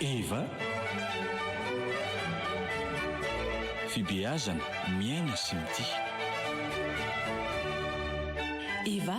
Eva, Fibeazana, miaina sy mitia. Eva,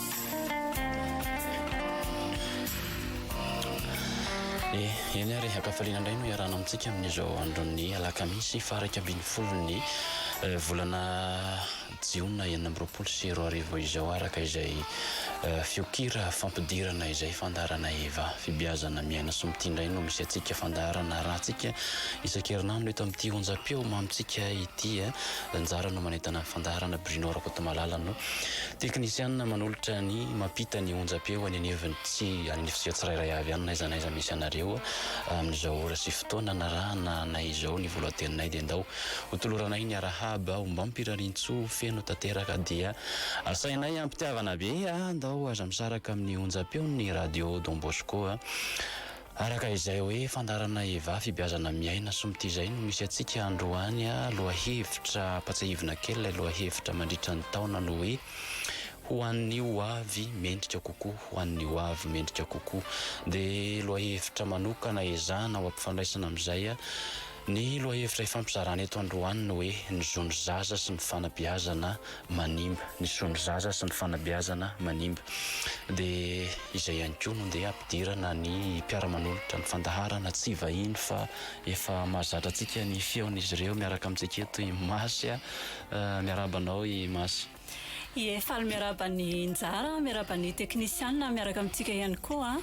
Eny ary, ankafaliana indray no iarahana amintsika amin'izao andron'ny alakamisy faha-iraika ambin'ny folon'ny eh, volana jiona enina amby roapolo sy roa arivo izao araka izay eh, fiokira fampidirana izay fandaharana Eva fibiazana miaina soa mitia indray no misy antsika fandaharana arahantsika isan-kerinandro eto amin'ity onjam-peo mamintsika ity eh. Anjara no manentana fandaharana Bruno Rakotomalala no teknisianina manolotra ny mampita ny onjam-peo any anivon'ny tsy an'ny fizika tsirairay avy any n'aiza n'aiza misy anareo amin'izao ora sy fotoana narahana anay izao ny volohateninay dia ndao hotoloranay ny arahaba ombam-pirarian-tsoa feno tanteraka dia asainay am-pitiavana be aho ndao aza misaraka amin'ny onjam-peon'ny radio Don Bosco a. Araka izay hoe fandaharana Eva fibiazana miaina sombity izay no misy antsika androany a lohahevitra ampatsahivina kely ilay lohahevitra mandritra ny taona no hoe ho an'ny ho avy mendrika kokoa ho an'ny ho avy mendrika kokoa dia lohahevitra manokana ezahana ho ampifandraisana amin'izay a Ny lohahevitra ifampizarana eto androany ny hoe ny zon'ny zaza sy ny fanabeazana manimba. Ny zon'ny zaza sy ny fanabeazana manimba. Dia izay ihany koa no ndeha hampidirana ny mpiara-manolotra ny fandaharana, tsy vahiny fa efa mahazatra antsika ny feon'izy ireo miaraka amintsika eto i Masy a. Miarahaba anao i Masy. Ie, faly miarahaba ny njara, miarahaba ny teknisiana miaraka amintsika ihany koa.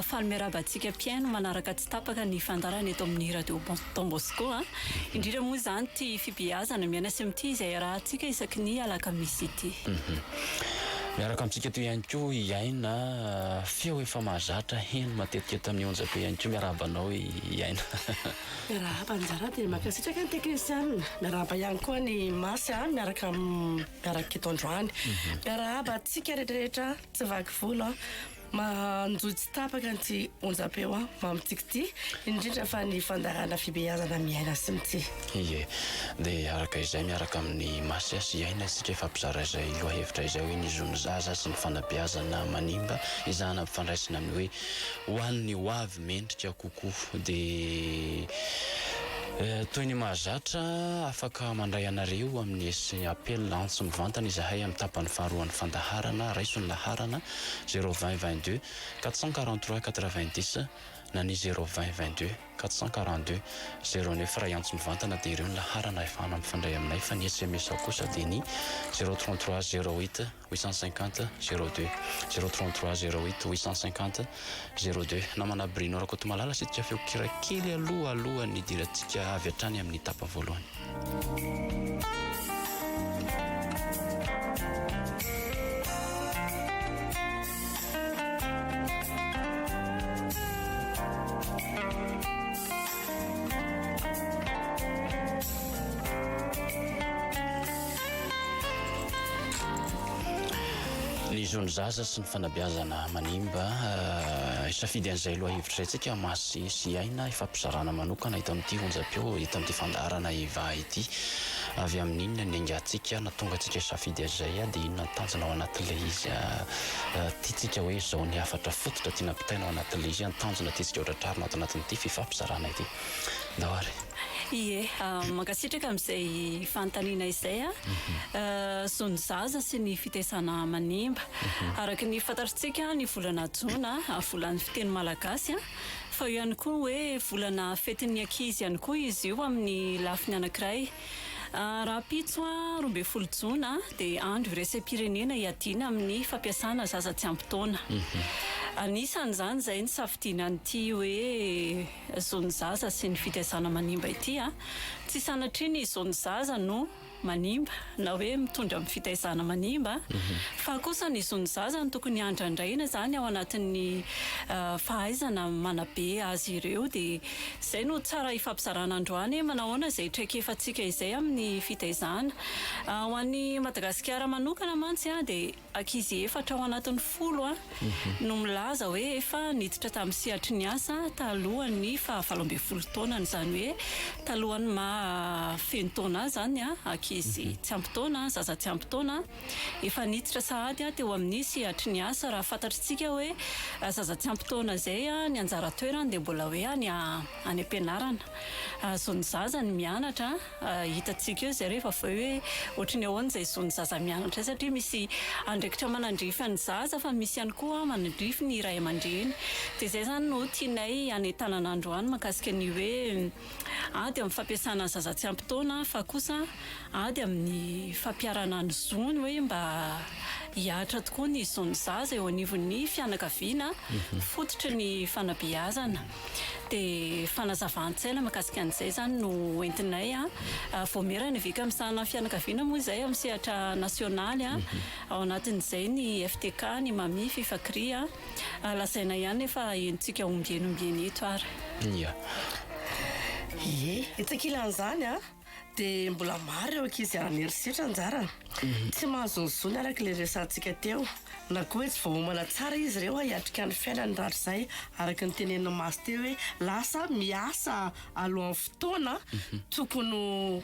Faly miarahaba antsika mpihaino manaraka tsy tapaka ny fandaharana eto amin'ny Radio Don Bosco. Indrindra moa izany ity fibeazana miaina sy mitia izay iarahantsika isaky ny alakamisy ity. Miaraka amintsika eto ihany koa i Aina, feo efa mahazatra heno matetika eto amin'ny Onjabe ihany koa. Miarahaba anao i Aina. Miarahaba nizara dia mankasitraka ny teknisianina. Miarahaba ihany koa an'i Masy miaraka miaraka eto androany. Miarahaba antsika rehetrarehetra tsy vaky volo manjohy tsy tapaka an'ity onjam-peo mamintsika ity indrindra fa ny fandaharana fibeazana amin'i Aina sy Mitsy. Ie, dia araka izay miaraka amin'i Masy sy Aina isika hifampizara izay lohahevitra izay hoe ny zon'ny zaza sy ny fanabeazana manimba izahana ampifandraisina amin'ny hoe ho an'ny hoavy. mendrika kokoa dia toy ny mahazatra afaka mandray anareo amin'ny sy appel antso mivantana izahay amin'ny tapany faharoan'ny fandaharana raiso ny laharana zéro vingt vingt deux quatre cent quarante trois quatre vingt dix na ny zéro vingt vingt deux quatre cent quarante deux zéro neuf iray antso mivantana dia ireo ny laharana ahafahana mifandray aminay fa ny sms kosa dia ny zéro trente trois zéro huit huit cent cinquante zéro deux zéro trente trois zéro huit huit cent cinquante zéro deux namana Bruno Rakotomalala sitika feo kira kely aloha alohan'ny hidirantsika avy hatrany amin'ny tapa voalohany. Ny zon'ny zaza sy ny fanabeazana manimba. Hisafidy an'izay lohahevitra izay tsika masy sy aina hifampizarana manokana eto amin'ity onjam-peo, eto amin'ity fandaharana Eva ity. Avy amin'inona ny aingantsika na tonga antsika hisafidy an'izay dia inona ny tanjona ao anatin'ilay izy. tiantsika hoe izao ny hafatra fototra tiana ampitaina ao anatin'ilay izy hoe ny tanjona tiantsika ho tratrarina ato anatin'ity fifampizarana ity. Ndao ary. Ie, mankasitraka amin'izay fanontaniana izay. Zo ny zaza sy ny fitesana manimba. Araka ny fantatritsika ny volana jona volan'ny fiteny malagasy fa eo ihany koa ny hoe volana fetin'ny ankizy ihany koa izy io amin'ny lafiny anankiray. Rahampitso, roa ambin'ny folo jona, dia andro iraisam-pirenena hiadiana amin'ny fampiasana zaza tsy ampy taona. Anisan'izany izay nisafidiana an'ity hoe zon'ny zaza sy ny fitaizana manimba ity. Tsy sanatria ny zon'ny zaza no manimba na hoe mitondra amin'ny fitaizana manimba fa kosa ny zon'ny zaza no tokony handrandraina izany ao anatin'ny fahaizana manabe azy ireo dia Izay no tsara ifampizarana androany, manahoana izay traikefantsika izay amin'ny fitaizana? Ho an'i Madagasikara manokana mantsy dia ankizy efatra ao anatin'ny folo no milaza hoe efa niditra tamin'ny sehatry ny asa talohan'ny fahavalo ambin'ny folo taonany, izany hoe talohan'ny maha feno taona azy izany, ankizy tsy ampy taona, zaza tsy ampy taona. Efa niditra sahady teo amin'ny sehatry ny asa raha fantatritsika hoe zaza tsy ampy taona izay ny anjara toerany dia mbola hoe any any am-pianarana. Zon'ny zaza ny mianatra, hitantsika eo izay rehefa avy eo hoe ohatry ny ahoana izay zon'ny zaza mianatra izay satria misy andraikitra manandrify an'ny zaza fa misy ihany koa manandrify ny ray aman-dreny. Dia izay izany no tianay hanentanana androany mahakasika ny hoe. Ady amin'ny fampiasana ny zaza tsy ampy taona fa kosa ady amin'ny fampiharana ny zony hoe mba hihatra tokoa ny zon'ny zaza eo anivon'ny fianakaviana fototry ny fanabeazana. Dia fanazavan-tsaina mahakasika an'izay izany no entinay. Voamera ny vika misahana ny fianakaviana moa izay amin'ny sehatra nasionaly, ao anatin'izay ny FTK, ny Mami, Fifa Kry. lazaina ihany nefa henontsika ombieny ombieny eto ary. Ia. Ie, etsy ankilan'izany dia mbola maro ireo ankizy haran'ny herisetra anjarany. Tsy mahazo ny zony araka ilay resahantsika teo, na koa hoe tsy voaomana tsara izy ireo hiatrika ny fiainany rahatrizay araka ny tenenin'i Masy teo hoe lasa miasa alohan'ny fotoana tokony ho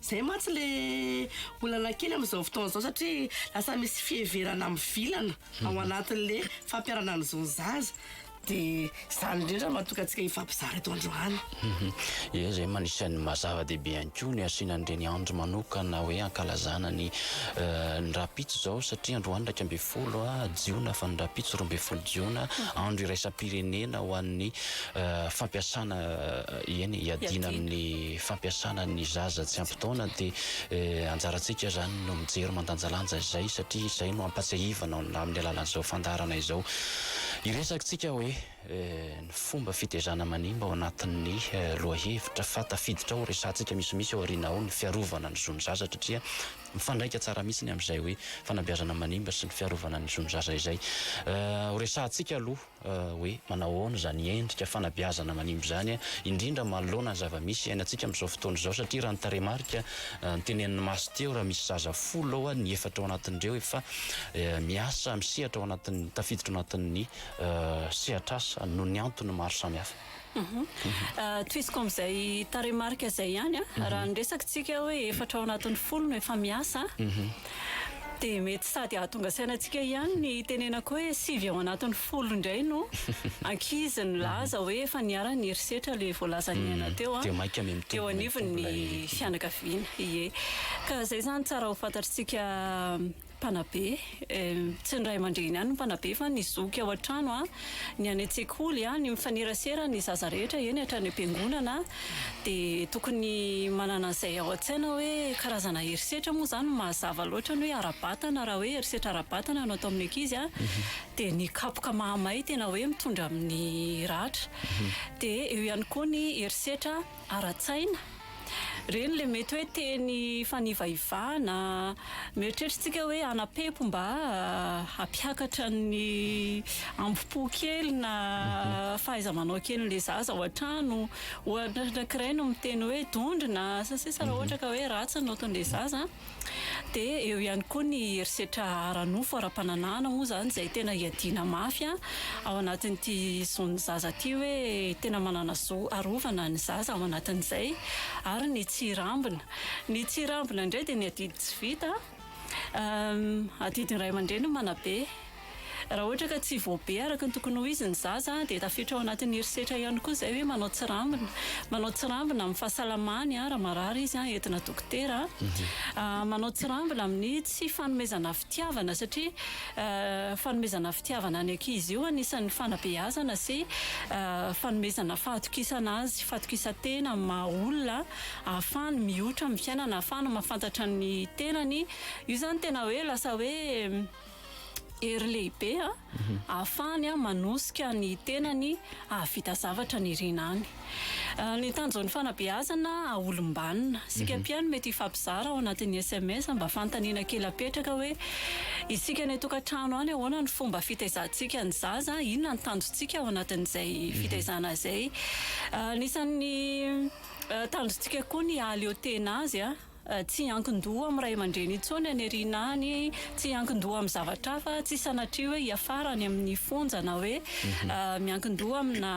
Zay mantsy le olana kely amin'izao fotoana izao satria lasa misy fiheverana mivilana ao anatin'le fampiharana ny zon'ny zaza de zany indrindra no mahatonga antsika hifampizara eto androany. Ie zay no anisan'ny maha zava dehibe ihany koa ny asiana an'ireny andro manokana hoe hankalazana ny ny rahampitso izao satria androany iraika ambin'ny folo jiona fa ny rahampitso roa ambin'ny folo jiona andro iraisam-pirenena ho an'ny fampiasana Eny, hiadiana amin'ny fampiasana ny zaza tsy ampy taona dia anjarantsika izany no mijery mandanjalanja izay satria izay no ampatsiahivana amin'ny alalan'izao fandaharana izao. Hiresakintsika hoe ny fomba fitezana manimba ao anatin'ny lohahevitra fa tafiditra ao resahantsika misimisy ao aoriana ao ny fiarovana ny zon'ny zaza satria mifandraika tsara mihitsy ny amin'izay hoe fanabeazana manimba sy ny fiarovana ny zon'ny zaza izay. Horesahantsika aloha. hoe manao ahoana izany endrika fanabeazana manimba izany, indrindra manoloana ny zava-misy iainantsika amin'izao fotoana izao, satria raha ny tarehimarika notenenin'ny Maso teo, raha misy zaza folo ao, ny efatra ao anatin'ireo efa miasa misehatra ao anatin'ny, tafiditra ao anatin'ny sehatr'asa noho ny antony maro samihafa. Tohiziko amin'izay tarehimarika izay ihany an, mhm. raha ny resaka tsika hoe efatra ao anatin'ny folo no efa miasa, mhm. dia mety sady hahatonga saina antsika ihany ny tenenako hoe sivy ao anatin'ny folo indray no ankizy ny laza hoe efa niara ny herisetra ilay voalazan'ny mhm. aina teo an, ah. eo anivon'ny fianakaviana, ie ka izay izany tsara ho fantatritsika Mpanabe, tsy ny ray aman-dreny ihany no mpanabe fa ny zoky ao an-trano, ny any an-tsekoly, ny mifanerasera, ny zaza rehetra eny hatrany am-piangonana dia tokony manana an'izay ao an-tsaina hoe karazana herisetra moa izany no mazava loatra ny hoe ara-batana raha hoe herisetra ara-batana no atao amin'ny ankizy dia ny kapoka mahamay tena hoe mitondra amin'ny ratra dia eo ihany koa ny herisetra ara-tsaina. Ireny ilay mety hoe teny fanivaivana, mieritreritr'tsika hoe hanapepo mba hampiakatra ny ambo-po kely na fahaiza-manao kelin'ilay zaza ao an-trano. Ohatra ankiray no miteny hoe dondrona sy ny sisa raha ohatra ka hoe ratsy ny notin'ilay zaza. Dia eo ihany koa ny herisetra ara-nofo, ara-pananahana moa izany izay tena hiadiana mafy ao anatin'ity zon'ny zaza ity hoe tena manana zo arovana ny zaza ao anatin'izay. Ary ny tsy hirambina. Ny tsy hirambina indray dia ny adidy tsy vita, adidy ny ray aman-dreny no manabe. Raha ohatra ka tsy voabe araka ny tokony ho izy ny zaza dia tafiditra ao anatin'ny herisetra ihany koa izay hoe manao tsirambina. Manao tsirambina amin'ny fahasalamany raha marary izy entina dokotera. Manao tsirambina amin'ny tsy fanomezana fitiavana satria fanomezana fitiavana ny ankizy io anisan'ny fanabeazana sy fanomezana fahatokisana azy, fahatokisan-tena amin'ny maha olona ahafahany mihotra amin'ny fiainana, ahafahany mahafantatra ny tenany. Io izany tena hoe lasa hoe hery lehibe ahafahany manosika ny tenany hahavita zavatra ny irina any. Ny tanjon'ny fanabeazana ahaolom-banona. Isika mpihaino mety hifampizara ao anatin'ny sms mba fanontaniana kely apetraka hoe, isika any an-tokantrano any ahoana ny fomba fitaizantsika ny zaza? Inona ny tanjontsika ao anatin'izay fitaizana izay? Anisan'ny tanjontsika koa ny hahaleo tena azy. Tsy hiankin-doha amin'ny ray aman-dreny intsony any aoriana any, tsy hiankin-doha amin'ny zavatra hafa, tsy sanatria hoe hiafara any amin'ny fonja na hoe miankin-doha amina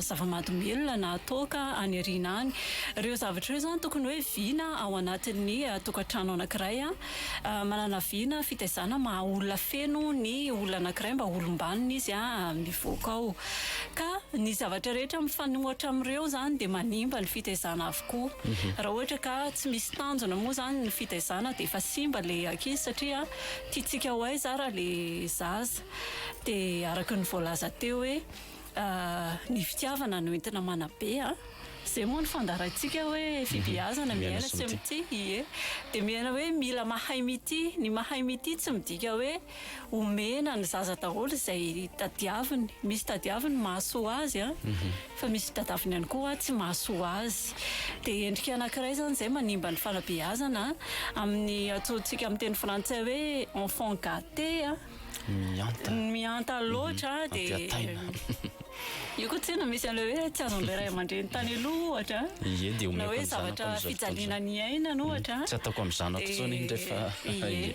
zava-mahadomelina na toaka any aoriana any. Ireo zavatra ireo izany tokony hoe vina ao anatin'ny tokantrano anankiray. Manana vina fitaizana maha olona feno ny olona anankiray mba olom-banona izy mivoaka ao. Ka ny zavatra rehetra mifanohitra amin'ireo izany dia manimba ny fitaizana avy. tokoa. Raha ohatra ka tsy misy tanjona moa izany ny fitaizana dia efa simba ilay ankizy satria tiantsika ho aiza ary ilay zaza. Dia araka ny voalaza teo hoe ny fitiavana no entina manabe. Izay moa no fandaharantsika hoe fibehazana miaina sy mitia. Ie. Dia miaina hoe mila mahay mitia. Ny mahay mitia tsy midika hoe omena ny zaza daholo izay tadiaviny misy tadiaviny mahasoa azy a fa misy tadaviny ihany koa tsy mahasoa azy dia endrika anankiray izany izay manimba ny fanabeazana amin'ny atsointsika amin'ny teny frantsay hoe enfant gâté a mihanta mihanta loatra dia Io koa tsinona misy an'ilay hoe tsy azon'ilay ray aman-dreny tany aloha ohatra an. Ie dia omeko ny zanako amin'izao fotoana izao. Na hoe zavatra fijaliana ny iainana ohatra an. Tsy ataoko amin'ny zanako intsony iny rehefa. Ie.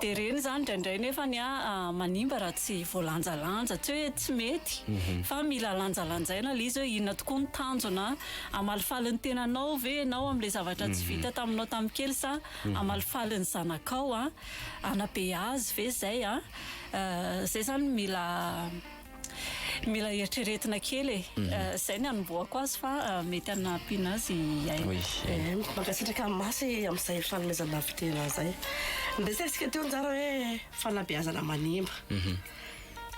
Dia ireny izany indraindray nefany an manimba raha tsy voalanjalanja. Tsy hoe tsy mety fa mila lanjalanjaina ilay izy hoe inona tokoa ny tanjona. Hamalifaly ny tenanao ve ianao amin'ilay zavatra tsy vita taminao tamin'ny kely sa hamalifaly ny zanakao an. Hanabe azy ve izay an. Izay izany mila. Mila eritreretina kely e. Mhm. Zay ny anombohako azy fa mety anampiana azy aina. Oui. Eh, mankasitraka masy amin'izay fanomezana fitena zay. Niresahantsika teo njara hoe fanabeazana manimba. Mhm.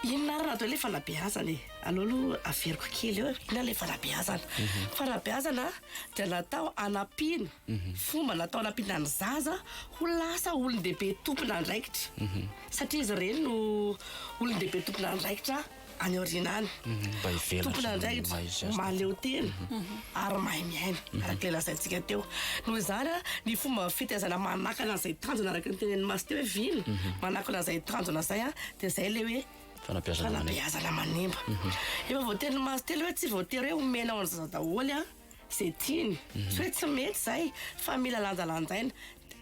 Inona ary raha le fanabeazana e? Aleo aloha averiko kely eo. Inona le fanabeazana? Mhm. Fanabeazana dia natao anampiana. Mhm. Fomba natao anampiana ny zaza ho lasa olon-dehibe tompon'andraikitra. satria izy ireny no olon-dehibe tompon'andraikitra any aoriana any, tompon'andraikitra mahaleo tena ary mahay miaina, araka ilay lazaintsika teo. Noho izany, ny fomba fitaizana manakana izay tanjona, araka ny tenenin'i Masy teo hoe vina, manakana izay tanjona izay dia izay ilay hoe fanabeazana manimba. Efa voatenin'i Masy teo ilay hoe tsy voatery hoe omenao an'izao daholo. izay tiany, tsy hoe tsy mety izay fa mila lanjalanjaina,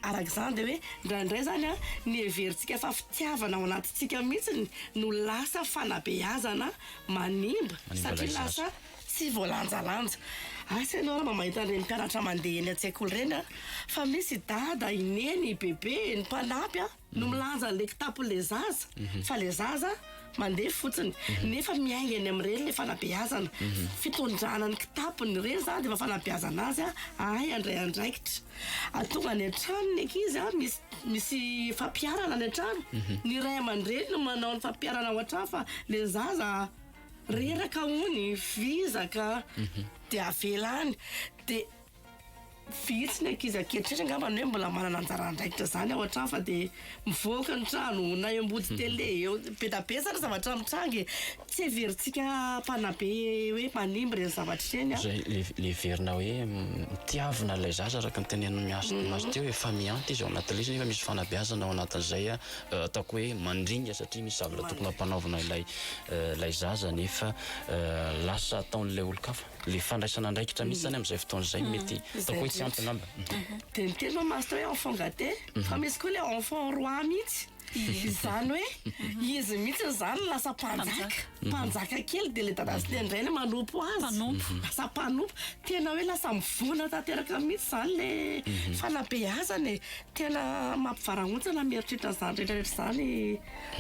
araka izany dia hoe indraindray izany an ny heverintsika fa fitiavana ao anatintsika mihitsy no lasa fanabeazana manimba satria lasa tsy voalanjalanja, asa ianao raha mba mahita an'ireny mpianatra mandeha eny an-tsekoly ireny an fa misy i dada, i neny, i bebe, ny mpanampy an. no milanja an'ilay kitapon'ilay zaza fa ilay zaza mandeha fotsiny nefa miainga eny amin'ny reny ilay fanabeazana, fitondrana ny kitapony, ireny izany dia efa fanabeazana azy hahay handray andraikitra, tonga any an-trano ny ankizy misy misy fampiharana any an-trano, ny ray aman-dreny no manao ny fampiharana ao an-trano fa ilay zaza reraka hono, vizaka dia avela any dia. Vitsy ny ankizy ankehitriny angamba ny hoe mbola manana anjara andraikitra izany ao an-trano fa dia mivoaka ny trano na eo ambody tele eo. Be dia be izany zavatra mitranga e. Tsy heverintsika mpanabe hoe manimba ireny zavatra ireny an. Ilay ilay heverina hoe mitiavina ilay zaza araka ny tenenin'i Miasto Miasto teo efa mihanty izy ao anaty lesona nefa misy fanabeazana ao anatin'izay ataoko hoe mandringa satria misy zavatra tokony hampanaovina ilay ilay zaza nefa lasa ataon'ilay olon-kafa. le fandraisana andraikitra mihitsy zany amin'izay fotoana izay no mety ataoko hoe tsy ampy angamba. Dia ny teny hoe master hoe enfant gate fa misy koa le enfant roi mihitsy. Izany hoe izy mihitsy izany no lasa mpanjaka, mpanjaka kely dia le dada sy le ndrainy manompo azy, lasa mpanompo. Tena hoe lasa mivondrona tanteraka mihitsy izany le fanabeazana e. Tena mampivarahontsana mieritreritra an'izany rehetra rehetra izany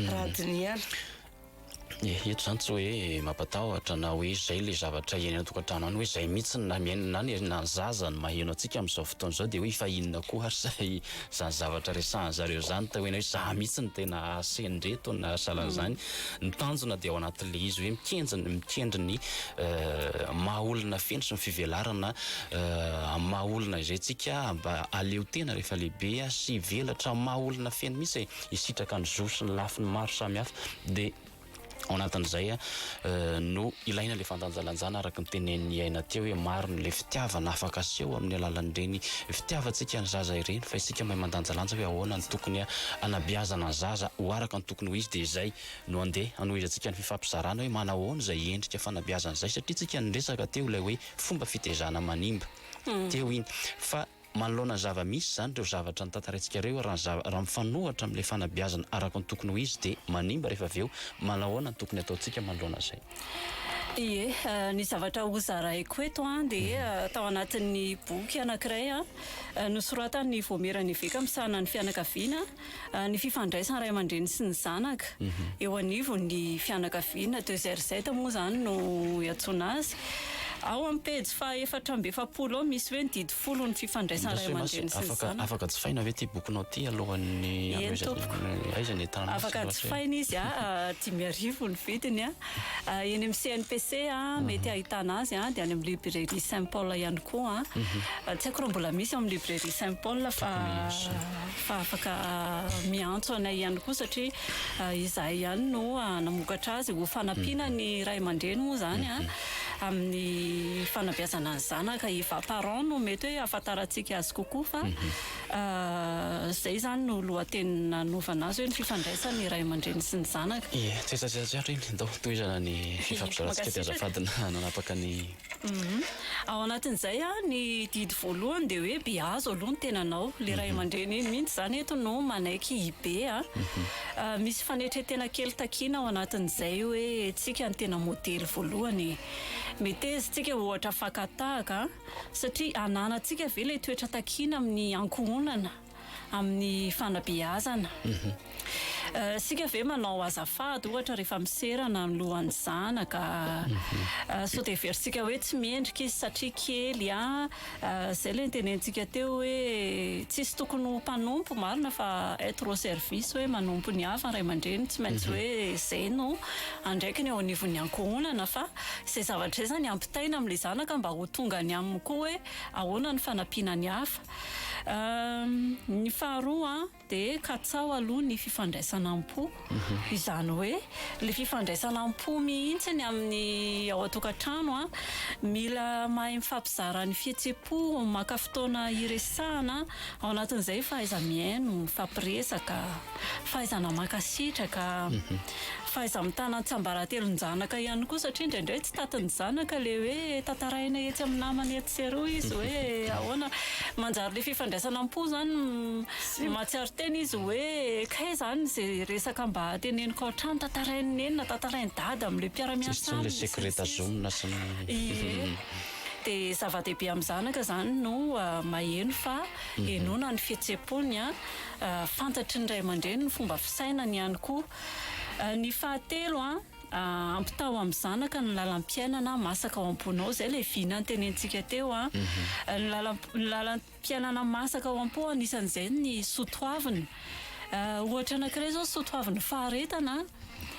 raha dinihana. Ehe eto izany tsy hoe mampatahotra na hoe izay ilay zavatra eny an-tokantrano any hoe izay mihitsy na ny aina na ny zaza no maheno antsika amin'izao fotoana izao dia hoe efa inona koa ary izay izany zavatra resahan'ny zareo izany tao eny hoe za mihitsy no tena sendreto na sahalan'izany. Ny tanjona dia ao anatin'ilay izy hoe mikenjy ny mikendry ny maha olona feno sy ny fivelarana amin'ny maha olona izay tsika mba aleo tena rehefa lehibe sy hivelatra amin'ny maha olona feno mihitsy e! hisitraka ny zo sy ny lafiny maro samihafa dia ao anatin'izay no ilaina ilay fandanjalanjana araka ny tenen'i Aina teo hoe maro ilay fitiavana afaka aseho amin'ny alalan'ireny fitiavantsika ny zaza ireny fa isika mahay mandanjalanja hoe ahoana ny tokony hanabeazana ny zaza ho araka ny tokony ho izy dia izay no andeha hanohizantsika ny fifampizarana hoe manao ahoana izay endrika fanabeazana izay satria tsika niresaka teo ilay hoe fomba fitezana manimba teo iny fa Manoloana ny zava-misy izany ireo zavatra notantaraintsika ireo, raha raha mifanohitra amin'ilay fanabeazana araka ny tokony ho izy dia manimba rehefa avy eo, manahoana no tokony hataontsika manoloana izay? Ie, ny zavatra hozaraiko eto dia tao anatin'ny boky anankiray nosoratan'ny Vaomieran'ny Eveka misahana ny fianakaviana, Ny fifandraisan'ny ray aman-dreny sy ny zanaka eo anivon'ny fianakaviana, de ZRZ moa izany no iantsoana azy. Ao amin'ny pejy fahaefatra amby efapolo ao misy hoe ny didy folo ny fifandraisan'ny ray aman-dreny sy ny zanaka. Afaka, afaka jifaina ve ity bokinao ity alohan'ny Eny tompoko. Aiza ny entana misy Afaka jifaina izy a, dimy arivo ny vidiny a. Eny amin'ny CNPC mety ahitana azy a, dia any amin'ny librairie Saint Paul ihany koa a. Tsy haiko raha mbola misy ao amin'ny librairie Saint Paul fa. fa afaka miantso anay ihany koa satria izahay ihany no namokatra azy ho fanampiana ny ray aman-dreny moa izany amin'ny fanabeazana ny zanaka efa parents no mety hoe ahafantarantsika azy kokoa fa izay izany no lohateny nanovana azy hoe ny fifandraisan'ny ray aman-dreny sy ny zanaka. Ie, tsy hetsa-dratsy ato iny, ndao tohizana ny fifampizaratsika dia azafady nanapaka ny. Ao anatin'izay ny didy voalohany dia hoe be azo aloha ny tenanao. Ilay ray mhm. aman-dreny iny mihitsy izany eto no manaiky hibe. Mhm. Ah, misy fanetren-tena kely takiana ao anatin'izay hoe tsika ny tena modely voalohany. Metezintsika ohatra fakatahaka satria ananantsika ve ilay toetra takiana amin'ny ankohonana. amin'ny fanabeazana. Isika ve manao azafady ohatra rehefa miserana ny lohan'ny zanaka? Sao dia heverintsika hoe tsy mendrika izy satria kely an? Izay ilay notenenintsika teo hoe tsisy tokony ho mpanompo marina fa être au service hoe manompo ny hafa ny ray aman-dreny tsy maintsy hoe izay no andraikiny eo anivon'ny ankohonana fa izay zavatra izay izany ampitaina amin'ilay zanaka mba ho tonga any aminy koa hoe ahoana ny fanampiana ny hafa. Ny faharoa dia katsaho aloha ny fifandraisana am-po, izany hoe ilay fifandraisana am-po mihitsy ny amin'ny ao an-tokantrano. Mila mahay mifampizara ny fihetsem-po, maka fotoana hiresahana, ao anatin'izay fahaiza-mihaino, mifampiresaka, fahaizana mankasitraka. Fahaiza-mitana an-tsambaratelon-janaka ihany koa satria indraindray tsy tatin'ny zanaka ilay hoe tantaraina etsy amin'ny namany etsy sy eroa izy hoe ahoana. Manjary ilay fifandraisana am-po izany mahatsiaro tena izy hoe kay izany izay resaka mba teneniko ao an-trano tantarain'i neny na tantarain'i dada amin'ilay mpiara-miasa aminy sy ny sisa. Tsy misy intsony ilay secret zoom na sy ny. Ie. Dia zava-dehibe amin'ny zanaka izany no maheno fa henoina ny fihetseham-pony. fantatry ny ray aman-dreny ny fomba fisainany ihany koa. Ny fahatelo, ampitaho amin'ny zanaka ny lalam-piainana masaka ao am-ponao. Izay ilay vina notenenintsika teo. Ny lalam- ny lalam-piainana masaka ao am-po, anisan'izay ny soatoavina. Ohatra anankiray izao ny soatoavin'ny faharetana.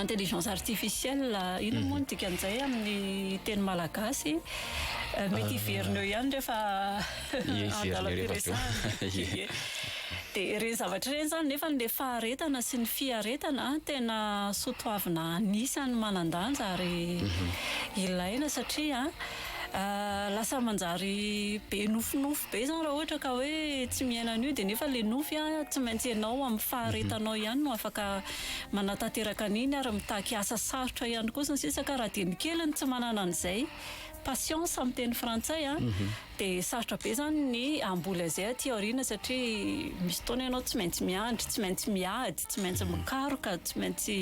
Intelligence artificielle, inona moa no dikan'izay amin'ny teny malagasy? Mety hiverina eo ihany rehefa andalam-piresahana. Dia ireny zavatra ireny izany nefa ilay faharetana sy ny fiaretana tena soatoavina anisan'ny manan-danja ary ilaina satria lasa manjary be nofinofy be izany raha ohatra ka hoe tsy miaina an'io dia nefa ilay nofy tsy maintsy ianao amin'ny faharetanao ihany no afaka manatanteraka an'iny ary mitaky asa sarotra ihany koa sy ny sisa ka raha dia ny kely no tsy manana an'izay patience amin'ny teny frantsay a dia sarotra be izany ny hamboly an'izay aty aoriana satria misy fotoana ianao tsy maintsy miandry, tsy maintsy miady, tsy maintsy mikaroka, tsy maintsy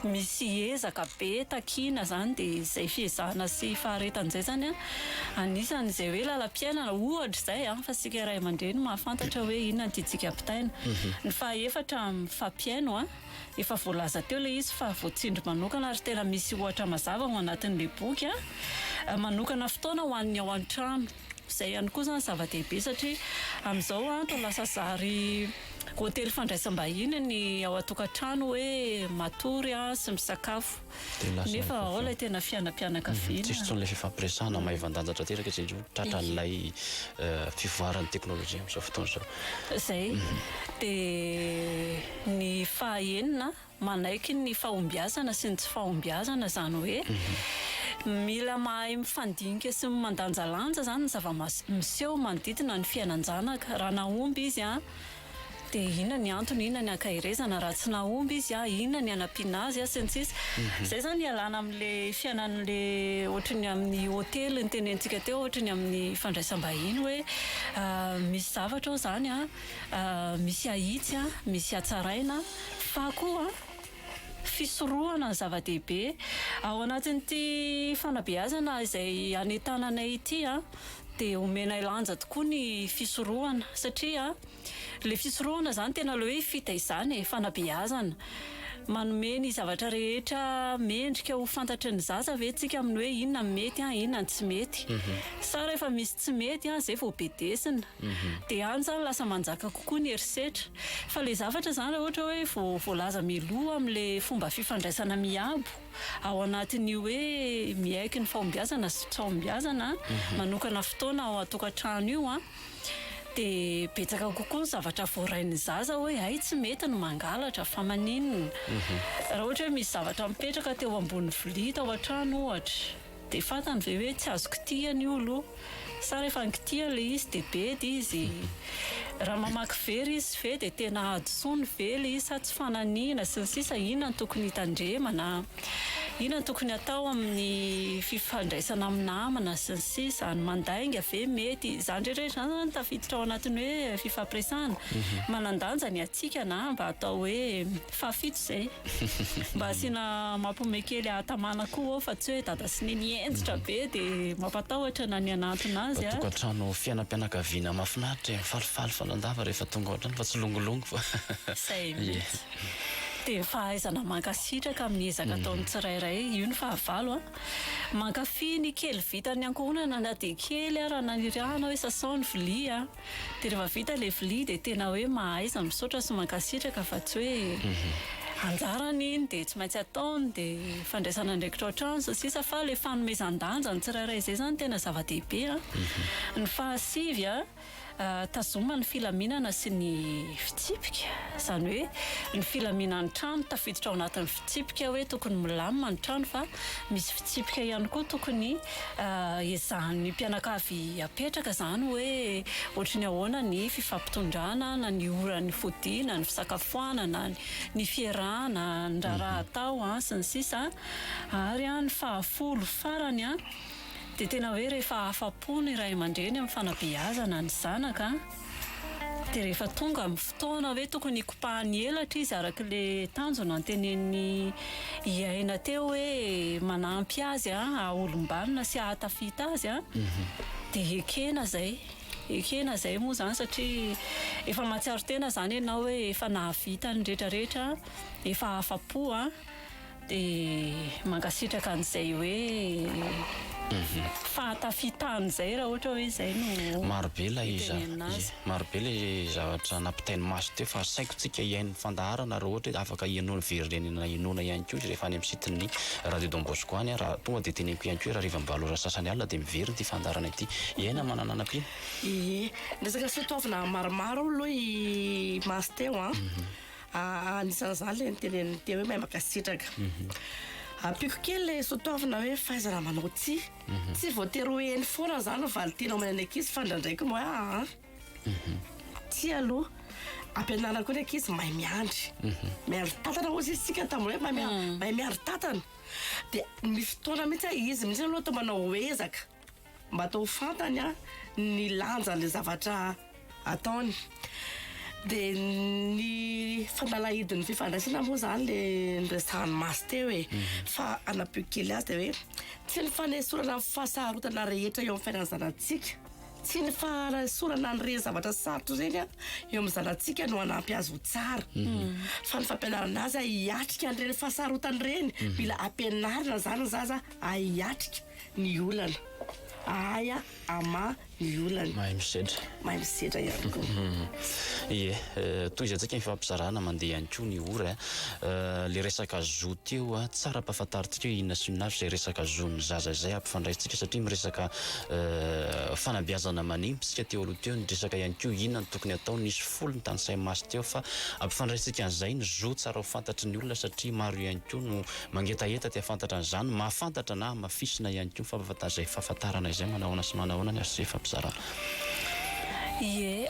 misy ezaka be takiana izany dia izay fiezahana sy faharetan'izay izany a. Anisan' izay hoe lalam-piainana, ohatra izay, fa isika ray aman-dreny no mahafantatra hoe inona ny tiantsika ampitaina. Ny fahaefatra, mifampihaino. Efa voalaza teo ilay izy fa voatsindry manokana ary tena misy ohatra mazava ao anatin'ilay boky. Manokana fotoana ho an'ny ao an-trano. Izay ihany koa izany zava-dehibe satria amin'izao andro lasa zary hotely fandraisam-bahiny ny ao an-tokantrano hoe matory sy misakafo. Nefa ao ilay tena fianampianakaviana. Tsisy intsony ilay fifampiresahana, maivan-danja tanteraka izy indroa, tratran'ilay fivoaran'ny teknolojia amin'izao fotoana izao. Izay. Dia ny fahaenina, manaiky ny fahombiazana sy ny tsy fahombiazana, izany hoe mila mahay mifandinika sy mandanjalanja izany ny zava-miseho manodidina ny fiainan-janaka. Raha nahomby izy, Dia inona ny antony, inona ny ankaherezana raha tsy nahomby izy, inona ny hanampiana azy sy ny sisa Izay izany hialana amin'ilay fiainan'ilay ohatry ny amin'ny hotely notenenintsika teo, ohatry ny amin'ny fandraisam-bahiny hoe misy zavatra ao izany, misy ahitsy, misy hatsaraina fa koa. fisorohana ny zava-dehibe ao anatin'ity fanabeazana izay hanentananay ity dia omenay lanja tokoa ny fisorohana satria ilay fisorohana izany tena ilay hoe fitaizana e, fanabeazana, manome ny zavatra rehetra mendrika ho fantatry ny zaza ve tsika amin'ny hoe inona no mety inona no tsy mety, sa rehefa misy tsy mety izay vao bedesina. Dia any izany lasa manjaka kokoa ny herisetra. Fa ilay zavatra izany raha ohatra hoe vao voalaza mialoha amin'ilay fomba fifandraisana miabo ao anatin'io hoe miaiky ny fahombiazana sy tsy fahombiazana manokana fotoana ao an-tokantrano io an, dia betsaka kokoa ny zavatra voarain'ny zaza hoe hay tsy mety ny mangalatra fa maninona raha ohatra hoe misy zavatra mipetraka teo ambony vilia tao an-trano ohatra. Dia fantany ve hoe tsy azo kitihana io aloha? Sa rehefa nikitihana ilay izy dia bedy izy? Raha mamaky very izy ve dia tena hadisoany ve ilay izy sa tsy fananihina sy ny sisa Inona no tokony hitandremana? Inona no tokony hatao amin'ny fifandraisana amin'ny namana sy ny sisa Ny mandainga ve mety? Izany rehetra izany izany tafiditra ao anatin'ny hoe fifampiresahana Manandanja ny hatsikana mba atao hoe Fahafito zay. Mba asiana mampome kely hahatamana koa ô fa tsy hoe dada sy neny henjitra be de mampatahotra na ny hanantona azy a. Tokantrano fiainam-pianakaviana mahafinaritra e, falifaly fanandava rehefa tonga ao an-trano fa tsy longolongo fa Izay mihitsy. Dia fahaizana mankasitraka amin'ny ezaka ataon'ny tsirairay, io no fahavalo a. Mankafy ny kely vitan'ny ankohonana na dia kely ara naniriahana hoe sasao ny vilia a. Dia rehefa vita ilay vilia dia tena hoe mahaiza misaotra sy mankasitraka fa tsy hoe anjarany iny dia tsy maintsy ataony dia fandraisana andraikitra an-trano sy ny sisa fa ilay fanomezan-danja ny tsirairay izay izany tena zava-dehibe an! Ny fahasivy an, tazoma ny filaminana sy ny fitsipika, izany hoe ny filaminan'ny trano tafiditra ao anatin'ny. Fitsipika hoe tokony milamina ny trano fa misy fitsipika ihany koa tokony ezahan'ny mpianakavy apetraka izany hoe ohatry ny ahoana ny fifampitondrana na ny ora nifodiana, ny fisakafoanana, ny fierahana, ny raharaha atao sy ny sisa Ary ny fahafolo farany dia tena hoe rehefa afa-po ny ray aman-dreny amin'ny fanabeazana ny zanaka, Dia rehefa tonga amin'ny fotoana hoe tokony hikopahany elatra izy araka ilay tanjo nantenenin'i i Aina teo hoe manampy azy haha-olom-banona sy hahatafita azy mhm. dia ekena izay ekena izay moa izany satria efa mahatsiaro tena izany ianao hoe efa nahavita ny rehetrarehetra efa afa-po an Dia mankasitraka an'izay hoe fahatafitan izay raha ohatra hoe izay no itenenina azy. Maro be ilay zavatra, maro be ilay zavatra nampitain'i Maso teo fa asaiko tsika hihaino ny fandaharana raha ohatra hoe afaka henoina, verenena henoina ihany koa izy rehefa any amin'ny site-n'ny Radio Don Bosco any raha tonga dia teneniko ihany koa hoe raha harivan'ny valo ora sasany alina dia miverina ity fandaharana ity. Hiaina manana hanampiana. Ie, resaka soatoavina maromaro aloha i Maso teo an. Anisan'izany ilay niteneniny teo hoe mahay mankasitraka. Ampiako kely ilay sotoavina hoe fahaizana manao tsia. Mhm. Tsy voatery ho heno foana izany ny valin-teny omenay ny ankizy fa ndraindraiky no hoe aa. Mhm. Tsia aloha. Ampianarina koa ny ankizy mahay miandry. Mhm. Miandry tantana hozy izy tsika tamin'ny hoe mahay miandry tantana. Dia misy fotoana mihitsy izy mihitsy aloha atao manao ezaka. Mba atao ho fantany an ny lanjan'ilay zavatra ataony. Dia ny fanalahidin'ny fifandraisana moa izany le niresahany Masy teo e. Mhm. Fa hanampio kely azy dia hoe tsy ny fanesorana ny fahasarotana rehetra eo amin'ny fiainan'ny zanatsika tsy ny fahasorana an'ireny zavatra sarotra ireny an eo amin'ny zanatsika no hanampy azy ho tsara mhm. fa ny fampianarana azy hiatrika an'ireny fahasarotana ireny mhm. mila ampianarina izany ny zaza hiatrika ny olana ahay a ama ny olana mahay misedra mahay misedra ihany koa ie tohizantsika ny fifampizarana mandeha ihany koa ny ora le resaka zo teo a tsara ampahafantarintsika hoe inona sy inona avy izay resaka zon'ny zaza izay ampifandraisintsika satria miresaka fanabeazana manimba isika teo aloha teo ny resaka ihany koa inona no tokony atao nisy folo ny tanisahy masy teo fa ampifandraisintsika an'izay ny zo tsara ho fantatry ny olona satria maro ihany koa no Mangetaheta te hafantatra an'izany, mahafantatra na hamafisina ihany koa ny fampahafantana izay fahafantarana izay manahoana sy manahoana ny azo ifampizarana. Ie,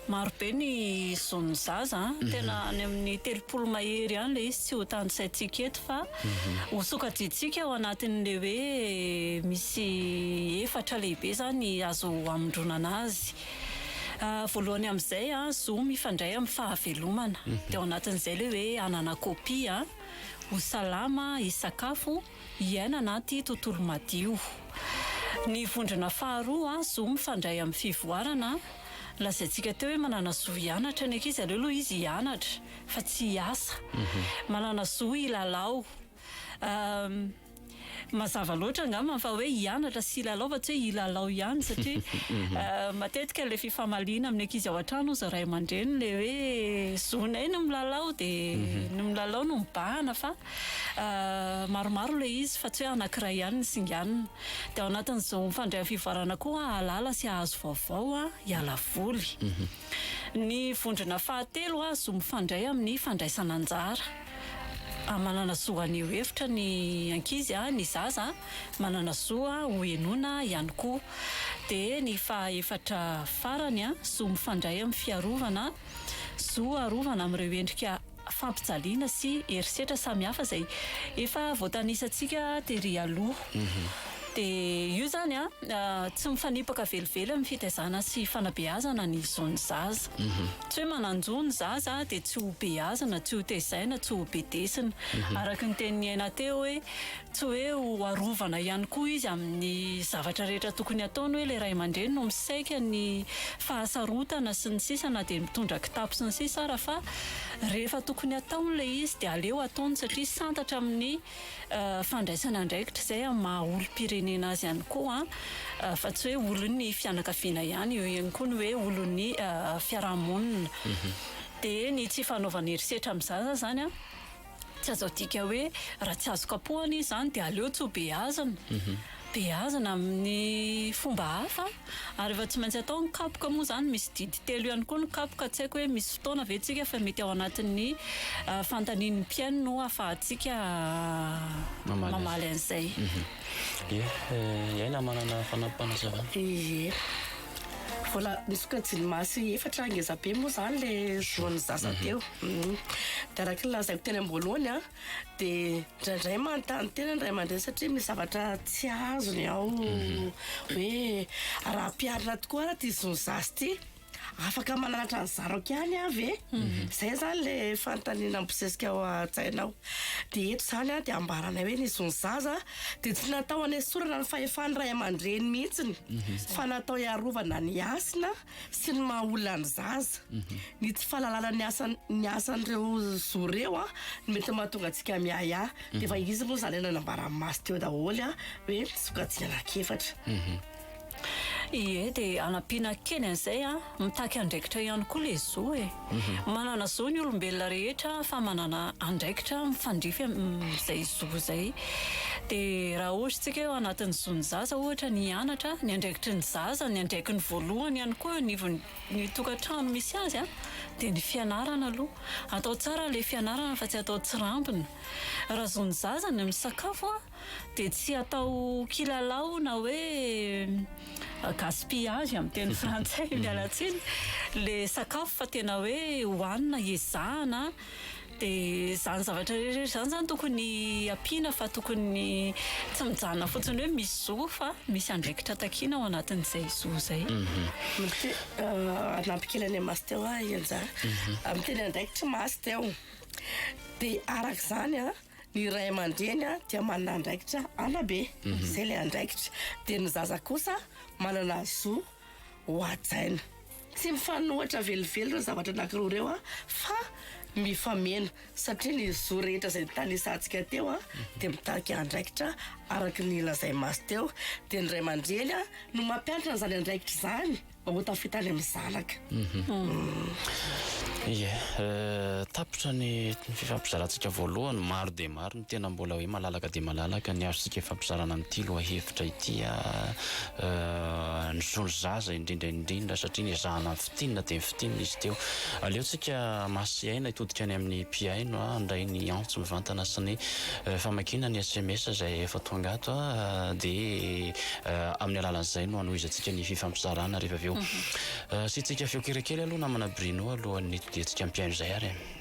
maro be ny zon'ny zaza an! Tena any amin'ny telopolo mahery any ilay izy, tsy ho tanisaintsika eto fa ho sokajiantsika ao anatin'ilay hoe misy efatra lehibe izany azo hamondronana azy. Voalohany amin'izay an, zo mifandray amin'ny fahavelomana, dia ao anatin'izay ilay hoe hanana kopia an! Ho salama, hisakafo, hiaina anaty tontolo madio. Ny vondrona faharoa, zo mifandray amin'ny fivoarana. Lazaintsika teo hoe manana zo hianatra ny ankizy, aleo aloha izy hianatra fa tsy hiasa. Manana zo hilalao. Mazava loatra angamba fa hoe hianatra sy hilalao fa tsy hoe hilalao ihany satria matetika ilay fifamaliana amin'ny ankizy ao an-trano hoy izao ray aman-dreny ilay hoe zonay no milalao dia mhm. ny milalao no mibahana fa maromaro ilay izy fa tsy hoe anankiray ihany ny singanina dia ao anatin'izao mifandray fivoarana koa hahalala sy hahazo vaovao a hiala voly mhm. ny vondrona fahatelo azo mifandray amin'ny fandraisana anjara Manana zo haneho hevitra ny ankizy, ny zaza manana zo ho henoina ihany koa. Dia ny fahaefatra farany, zo mifandray amin'ny fiarovana, zo harovana amin'ireo endrika fampijaliana sy herisetra samihafa izay efa voatanisantsika tery aloha. Dia io izany tsy mifanipaka velively amin'ny fitaizana sy fanabeazana ny zon'ny zaza. Tsy hoe manan-jo ny zaza dia tsy ho beazina, tsy ho tezaina, tsy ho bedesina. Araka ny tenin'i Aina teo hoe tsy hoe ho arovana ihany koa izy amin'ny zavatra rehetra tokony ataony hoe ilay ray aman-dreny no misaika ny fahasarotana sy ny sisa na dia mitondra kitapo sy ny sisa ara fa rehefa tokony ataony ilay izy dia aleo ataony satria santatra amin'ny fandraisana andraikitra izay amin'ny maha olom-pirenena azy ihany koa fa tsy hoe olon'ny fianakaviana ihany, eo ihany koa ny hoe olon'ny fiarahamonina. Dia ny tsy fanaovana herisetra amin'ny zaza izany an, tsy azo adika hoe raha tsy azo kapohana izy izany dia aleo tsy hobeazina. beazina amin'ny fomba hafa ary efa tsy maintsy atao ny kapoka moa izany misy didy telo ihany koa ny kapoka tsy haiko hoe misy fotoana ve tsika fa mety ao anatin'ny fantanin'ny mpihaino no afahantsika mamaly an'izay ye iaina manana fanampampanazavana ye vola misy koa jilimasy efatra ngezabe moa izany le zon'ny zaza teo dia araka ny lazaiko teny am-boalohany a dia indraindray manontany tena ny ray aman-dreny satria misy zavatra tsy azony ao mhm. hoe raha mpiarina tokoa raha ty zony zazy ty afaka mananatra ny zarako ihany avy e mhm. zay zany le fanontaniana mibosesika ao an-tsainao dia eto zany a dia ambaranay hoe nisy zony zaza dia tsy natao hanesorana ny fahefan'ny ray aman-dreny mihitsiny mhm. fa natao hiarovana ny hasina sy ny maha olona ny zaza, ny tsy fahalalana ny asan ny asan'ireo zo ireo a, no mety mahatonga antsika miahiahy. Dia efa izy moa izany efa nambaran'i Masy teo daholo a, hoe sokajiny anankiefatra. Ie, dia anampiana kely an'izay a, mitaky andraikitra ihany koa ilay zo e. Manana zo ny olombelona rehetra fa manana andraikitra mifandrify amin'izay zo izay. Dia raha ohatra isika hoe ao anatin'ny zon'ny zaza ohatra ny hianatra, ny andraikitry ny zaza, ny andraikiny voalohany ihany koa eo anivon'ny tokantrano misy azy dia ny fianarana aloha. Atao tsara ilay fianarana fa tsy atao tsirambina. Raha zon'ny zaza ny misakafo, dia tsy atao kilalao na hoe gaspillage amin'ny teny frantsay, miala tsiny, ilay sakafo fa tena hoe hohanina, ezahana. Dia izany zavatra rehetra izany izany tokony ampiana fa tokony tsy mijanona fotsiny hoe misy zo fa misy andraikitra takiana ao anatin'izay zo izay. Hanampy kely an'i Masy teo aho Henja. Amin'ny teny andraikitry Masy teo. Dia araka izany an, Ny ray aman-dreny dia manana andraikitra anabe, izay ilay andraikitra. Dia ny zaza kosa manana zo hohajaina. Tsy mifanohitra velively ireo zavatra anankiroa ireo fa mifameno satria ny zo rehetra izay notanisantsika teo dia mitarika andraikitra araka ny lazain'i Masy teo. Dia ny ray aman-dreny no mampianatra an'izany andraikitra izany. Mba ho tafita any amin'ny zanaka. Ie, tapitra ny fifampizarantsika voalohany, maro dia maro ny tena mbola hoe malalaka dia malalaka ny azontsika ifampizarana amin'ity lohahevitra ity an, ny zaza indrindra indrindra satria ny ezahana ny fintinina dia ny fintinina izy teo. Aleontsika hamatsy aina hitodika any amin'ny mpihaino an, handray ny antso mivantana sy ny famakiana ny sms izay efa tonga ato an, dia. Amin'ny alalan'izay no hanohizantsika ny fifampizarana rehefa avy eo. Asiantsika feo kere kely aloha namana Bruno alohan'ny hitodiantsika ampihaino izay ary e.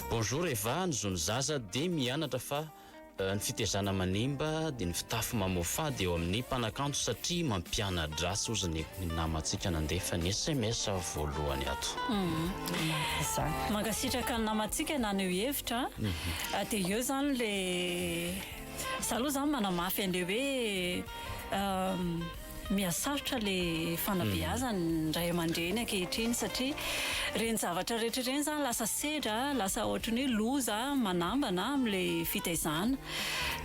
Bonjour Eva, ny zon'ny zaza dia mianatra fa ny fitezana manimba dia ny fitafy mamoafady eo amin'ny mpanakanto satria mampianadratsy hozy ny namantsika nandefa ny sms voalohany ato. Mankasitraka ny namantsika naneho hevitra a. Dia eo izany le za aloha zany manamafy an'le hoe Mihasarotra le fanabeazan ny ray amandreny ankehitriny satria reny zavatra rehetra reny zany lasa sedra lasa ohatrany hoe loza manambana amin le fitaizana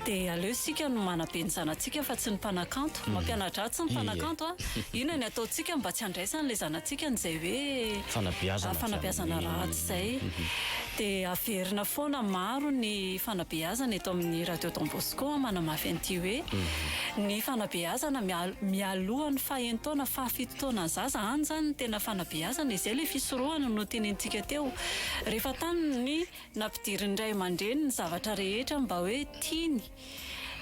de aleo isika no manabe ny zanatsika fa tsy ny mpanakanto mampianadratsy ny mpanakanto a inona ny ataotsika mba tsy handraisan le zanatsika an zay hoe fanabeazana ratsy zay de averina foana maro ny fanabeazana eto amin ny radio Don Bosco. Koa manamafy an'ity hoe, ny fanabeazana mialoha ny fahen'taona fahafito taona zaza any zany no tena fanabeazana e, izay ilay fisorohana notenenintsika teo. Rehefa tany ny nampidirin'ny ray aman-dreny ny zavatra rehetra mba hoe tiany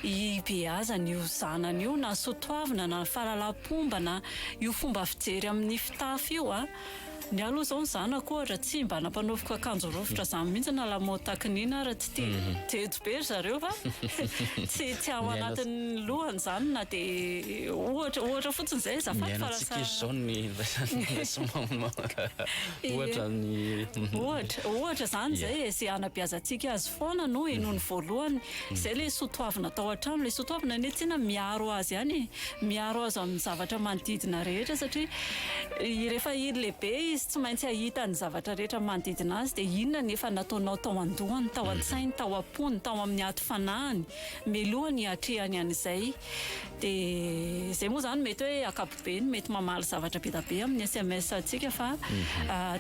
hibeazana io zanany io na soatoavina na fahalalam-pomba na io fomba fijery amin'ny fitafy io a, Ny ahy aloha zao ny zanako ohatra tsy mba nampanaoviko akanjo rovitra zany mihitsy na lamaody takin'ina ary tsy tia jejo be ry zareo fa tsy tsy ao anatin'ny lohany zany na dia ohatra ohatra fotsiny zay azafady fa lasa miaina tsy kizo zao ny ohatra ny ohatra ohatra zany zay e ze hanabeazantsika azy foana no henoiny voalohany Izay ilay soatoavina tao an-trano. Ilay soatoavina anie tsinona miaro azy ihany e. Miaro azy amin'ny zavatra manodidina rehetra satria rehefa lehibe izy tsy maintsy hahita ny zavatra rehetra manodidina azy dia inona ny efa nataonao tao an-dohany, tao an-tsainy, tao am-pony, tao amin'ny aty fanahiny mialoha ny hatrehany an'izay. Dia izay moa izany mety hoe ankapobeny. be ny mety mamaly zavatra be da be amin'ny sms antsika fa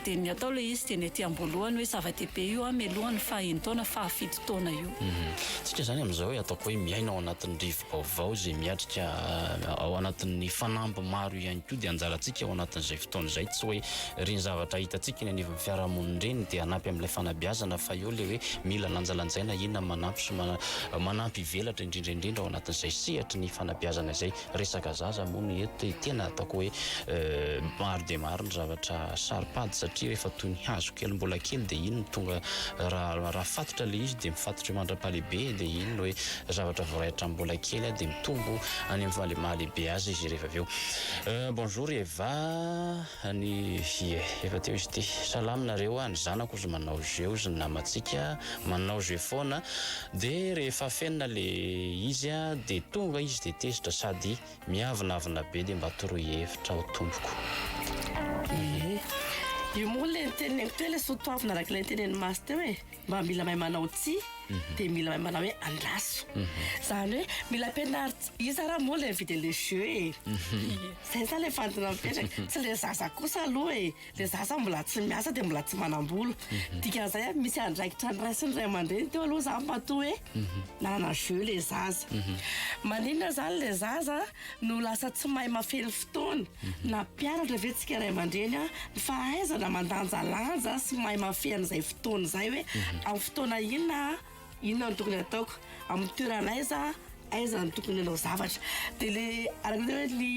dia ny atao ilay izy dia ny aty am-boalohany hoe zava-dehibe io an mialoha ny faha enin-taona faha fito taona io. Tsika izany amin'izao hoe ataoko hoe miaina ao anatin'ny rivo-baovao izay miatrika ao anatin'ny fanamby maro ihany koa dia anjarantsika ao anatin'izay fotoana izay tsy hoe ireny zavatra hitantsika eny anivon'ny fiarahamonina ireny dia hanampy amin'ilay fanabeazana fa eo ilay hoe mila lanjalanjaina inona manampy sy manampy hivelatra indrindra indrindra ao anatin'izay sehatry ny fanabeazana izay. resaka zaza moa no eto dia tena ataoko hoe maro dia maro ny zavatra saro-pady satria rehefa toy ny hazo kely mbola kely dia iny no tonga raha raha fatotra ilay izy dia mifatotra eo mandra-pahalehibe dia iny no hoe zavatra voaraitra mbola kely aho dia mitombo any amin'ny maha-lehibe azy izy rehefa avy eo. Bonjour Eva. Any vie efa teo izy ity. Salama nareo a, ny zanako ozy manao jeux ozy ny namantsika manao jeux foana de rehefa afenina le izy a de tonga izy de tezitra sady miavonavona be de mba toroy hevitra aho tompoko. Io moa le niteneniko teo le soa toavina araka ilay nitenen'i Masy teo e. mba mila mahay manao tsy dia mila mahay manao hoe andraso izany hoe mila ampianarina iza raha moa ilay mividy an'ilay jeu e izay izany ilay fantina mipetraka tsy ilay zaza kosa aloha e ilay zaza mbola tsy miasa dia mbola tsy manam-bola dikan'izay a misy andraikitra ny ray sy ny ray aman-dreny teo aloha izany matoa hoe nanana jeu ilay zaza maninona izany ilay zaza no lasa tsy mahay mafely fotoana na mpianatra ve tsika ray aman-dreny an, ny fahaizana mandanjalanja sy mahay mafehy an'izay fotoana izay hoe amin'ny fotoana inona inona no tokony ataoko, amin'ny toerana aiza aiza no tokony hanao zavatra dia le araka ny hoe ny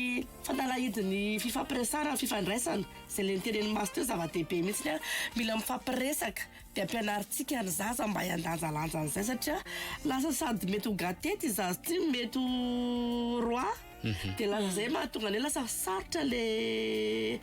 fanalahidin'ny fifampiresahana ny fifandraisana izay le nitenen'i Maso teo zava-dehibe mihitsy an, mila mifampiresaka Dia ampianarintsika ny zaza mba hiandanjalanja an'izay satria lasa sady mety ho gâté ity zaza ity no mety ho roi dia lasa izay mahatonga an'ilay lasa sarotra ilay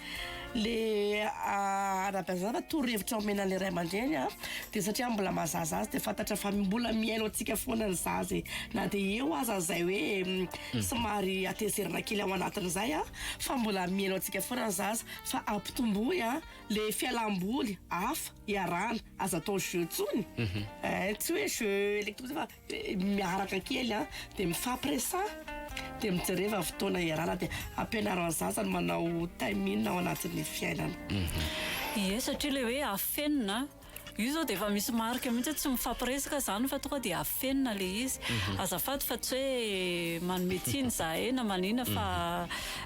ilay hanabeazana fa torohevitra omena an'ilay ray aman-dreny an dia satria mbola maha zaza azy dia fantatra fa mbola mihaino antsika foana ny zaza e na dia eo aza izay hoe somary hatezerana kely ao anatiny izay an fa mbola mihaino antsika foana ny zaza fa ampitomboy an le fialamboly hafa iarahana aza atao jeu tsony eh tsy hoe jeu electronique fa miaraka kely an dia mifampiresaha dia mijereva fotoana iarahana dia ampianaro ny zaza ny manao time in ao anatin'ny fiainana. Ie satria le hoe afenina Io zao dia efa misy marika mihitsy hoe tsy mifampiresaka izany fa tonga dia afenina ilay izy. Azafady fa tsy hoe manome tsiny izahay na manina fa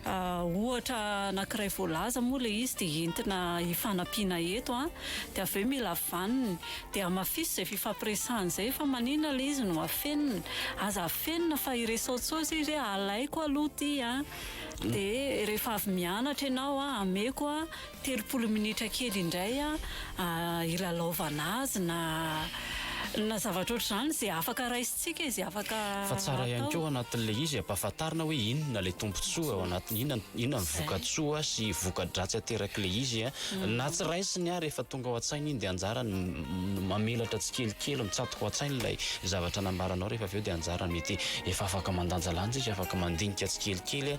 ohatra anankiray voalaza moa ilay izy dia entina hifanampiana eto an! Dia avy eo mila vaniny. Dia hamafiso izay fifampiresahana izay fa manina ilay izy no afenina? Aza afenina fa iresao tsao izay izy hoe alaiko aloha ity an! Dia rehefa avy mianatra ianao an, ameko an! telopolo minitra kely indray hilalaovana azy na na zavatra ohatr'izany izay afaka raisintsika izay afaka atao. Fa tsara ihany koa ao anatin'ilay izy ampahafantarina hoe inona ilay tombontsoa ao anatin'ny, inona inona ny vokatsoa sy voka-dratsy aterak'ilay izy na tsy raisiny ary efa tonga ao an-tsainy iny dia anjarany mamelatra tsikelikely mitsatoka ao an-tsainy ilay zavatra nambaranao rehefa avy eo dia anjarany mety efa afaka mandanjalanja izy afaka mandinika tsikelikely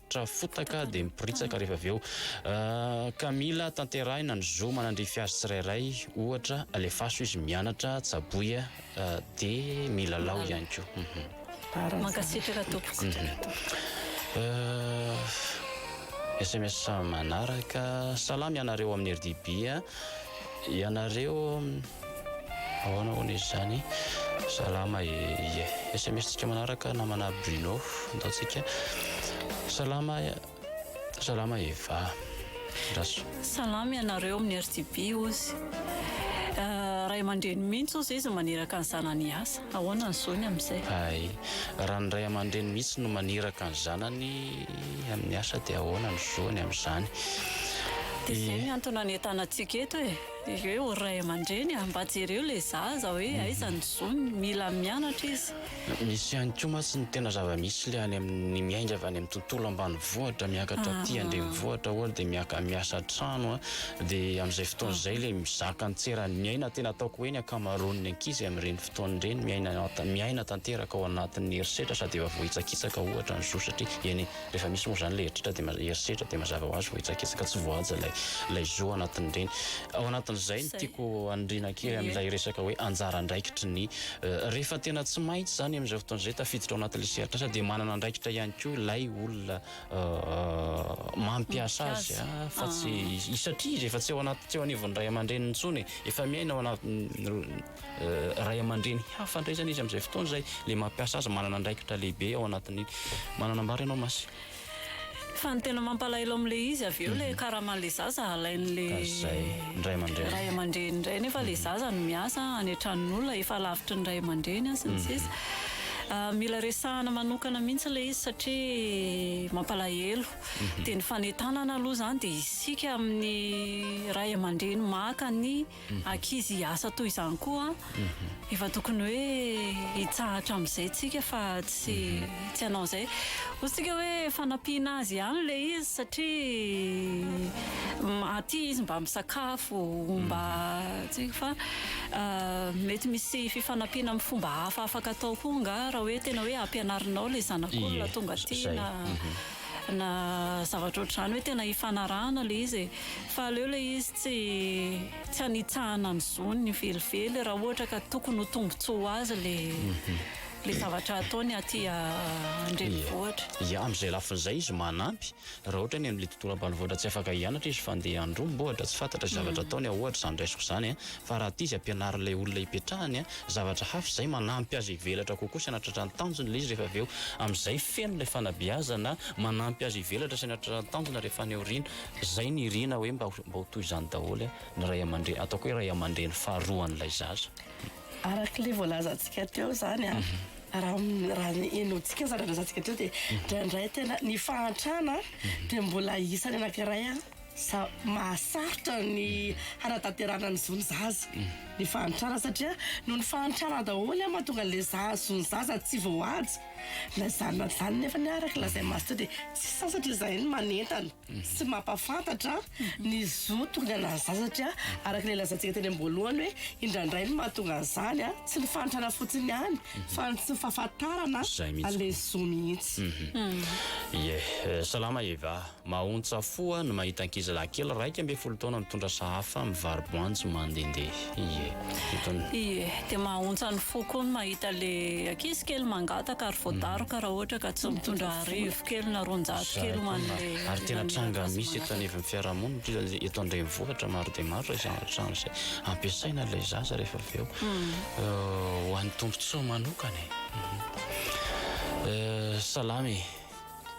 Rehetra fotaka dia miporitsaka rehefa avy eo ka mila tanterahina ny zo manandrify azy tsirairay, ohatra alefaso izy mianatra, tsaboy dia milalao ihany koa. Mankasitraka tompoko. SMS manaraka, salama ianareo amin'ny RDB. Ianareo ahoana hono izy zany? Salama e ie. Sms tsika manaraka namana Bruno antaontsika salama salama Eva Raso. Salama ianareo amin'ny RTB ozy ray aman-dreny mihitsy ozy izy maniraka ny zanany hiasa. Ahoana ny zony amin'izay? Hay, raha ny ray aman-dreny mihitsy no maniraka ny zanany. Ny amin'ny asa dia ahoana ny zo any amin'izany? Dia izay ny antony anentana antsika eto e! Dia hoe ho ray aman-dreny a! Mba jereo ilay zaza hoe aiza ny zony, mila mianatra izy. Misy ihany koa mantsy ny tena zava-misy ilay any amin'ny miainga avy any amin'ny tontolo ambanivohitra miakatra aty an-drenivohitra ohatra dia miaka miasa an-trano a! Dia amin'izay fotoana izay ilay mizaka ny tseran'ny aina tena ataoko hoe ny ankamaroan'ny ankizy amin'ireny Fotoan'ny reny miaina tanteraka ao anatin'ny herisetra sady efa voahitsakitsaka ohatra ny zo satria eny rehefa misy moa izany ilay herisetra dia mazava ho azy voahitsakitsaka tsy voahaja ilay zo ao anatin'ny reny. Ao anatin'izay ny tiako haniriana kely amin'ilay resaka hoe anjara andraikitry ny rehefa tena tsy maintsy izany amin'izao fotoana izay tafiditra ao anatin'ilay sehatr'asa dia manana andraikitra ihany koa ilay olona mampiasa azy fa tsy satria izy efa tsy ao anaty tsy eo anivon'ny ray aman-dreniny intsony e, efa miaina ao anatin'ny. ray aman-dreny hafa indray izany izy amin'izay fotoana izay, ilay mampiasa azy manana andraikitra lehibe ao anatin'iny. Manana ambara ianao Masy? Fa ny tena mampalahelo amin'ilay izy avy eo ilay karaman'ilay zaza halain'ilay ray aman-dreny indray nefa ilay zaza no miasa any an-tranon'olona efa lavitry ny ray aman-dreny sy ny sisa. Mila resahana manokana mihitsy ilay izy satria mampalahelo. Dia ny fanentanana aloha izany dia isika amin'ny ray aman-dreny maka ny ankizy hiasa toy izany koa efa tokony hoe hitsahatra amin'izay tsika fa tsy tsy hanao an'izay hoy tsika hoe fanampiana azy ihany ilay izy satria aty izy mba misakafo mba tsy fa mety misy fifanampiana amin'ny fomba hafa afaka atao koa nga raha hoe tena hoe ampianarinao ilay zanak'olona tonga aty na na zavatra ohatr'izany hoe tena hifanarahana ilay izy e Fa aleo ilay izy tsy tsy hanitsahana ny zony velively raha ohatra ka tokony ho tombotsoa ho azy ilay ilay zavatra ataony aty an-drenivohitra. Ia, amin'izay lafiny izay izy manampy raha ohatra ny amin'ilay tontolo ambanivohitra tsy afaka hianatra izy fa handeha handromba ohatra, tsy fantatra izay zavatra ataony aho ohatra izany raisiko izany an! Fa raha aty izy ampianarin'ilay olona ipetrahany an, zavatra hafa izay manampy azy hivelatra kokoa sy hanatratra ny tanjony ilay izy rehefa avy eo, amin'izay feno ilay fanabeazana manampy azy hivelatra sy hanatratra ny tanjona rehefa any aoriana. Izay no iriana hoe mba ho toy izany daholo ny ray aman-dreny, ataoko hoe ray aman-dreny faharoa an'ilay zaza. Araka ilay voalazantsika teo izany, raha ny henointsika ny zava-nilazatsika teo dia indraindray tena ny fahantrana dia mbola isany anankiray mahasarotra ny hanatanterahana ny zon'ny zaza. Ny fahantrana satria noho ny fahantrana daholo no mahatonga an'ilay zon'ny zaza tsy voahaja. Na izany na izany anefa anie araka ny lazain'i Master dia tsy sasatra izahay ny manentana sy mampahafantatra ny zo tonga anan'ny zaza satria araka ilay lazantsika teny am-boalohany hoe indraindray ny mahatonga an'izany tsy ny fanotrana fotsiny ihany fa ny tsy fahafantarana an'ilay zo mihitsy. Ie, salama Eva. Mahontsafoa ny mahita ankizilahy kely iraika ambin'ny folo taona mitondra sahafa mivaro-boanjo mandendeha. Ie. Itony. Ie. Dia mahahontsa ny fo koa ny mahita ilay ankizy kely mangataka ary voadaroka raha ohatra ka tsy mitondra arivo kely na roanjato kely ho an'ilay naniraka azy mangataka. Ary tena tranga misy eto anivon'ny fiarahamonina indrindra ny eto an-drenivohitra maro dia maro izay zavatra izay ampiasaina ilay zaza rehefa avy eo ho an'ny tombotsoa manokana e. Salama e.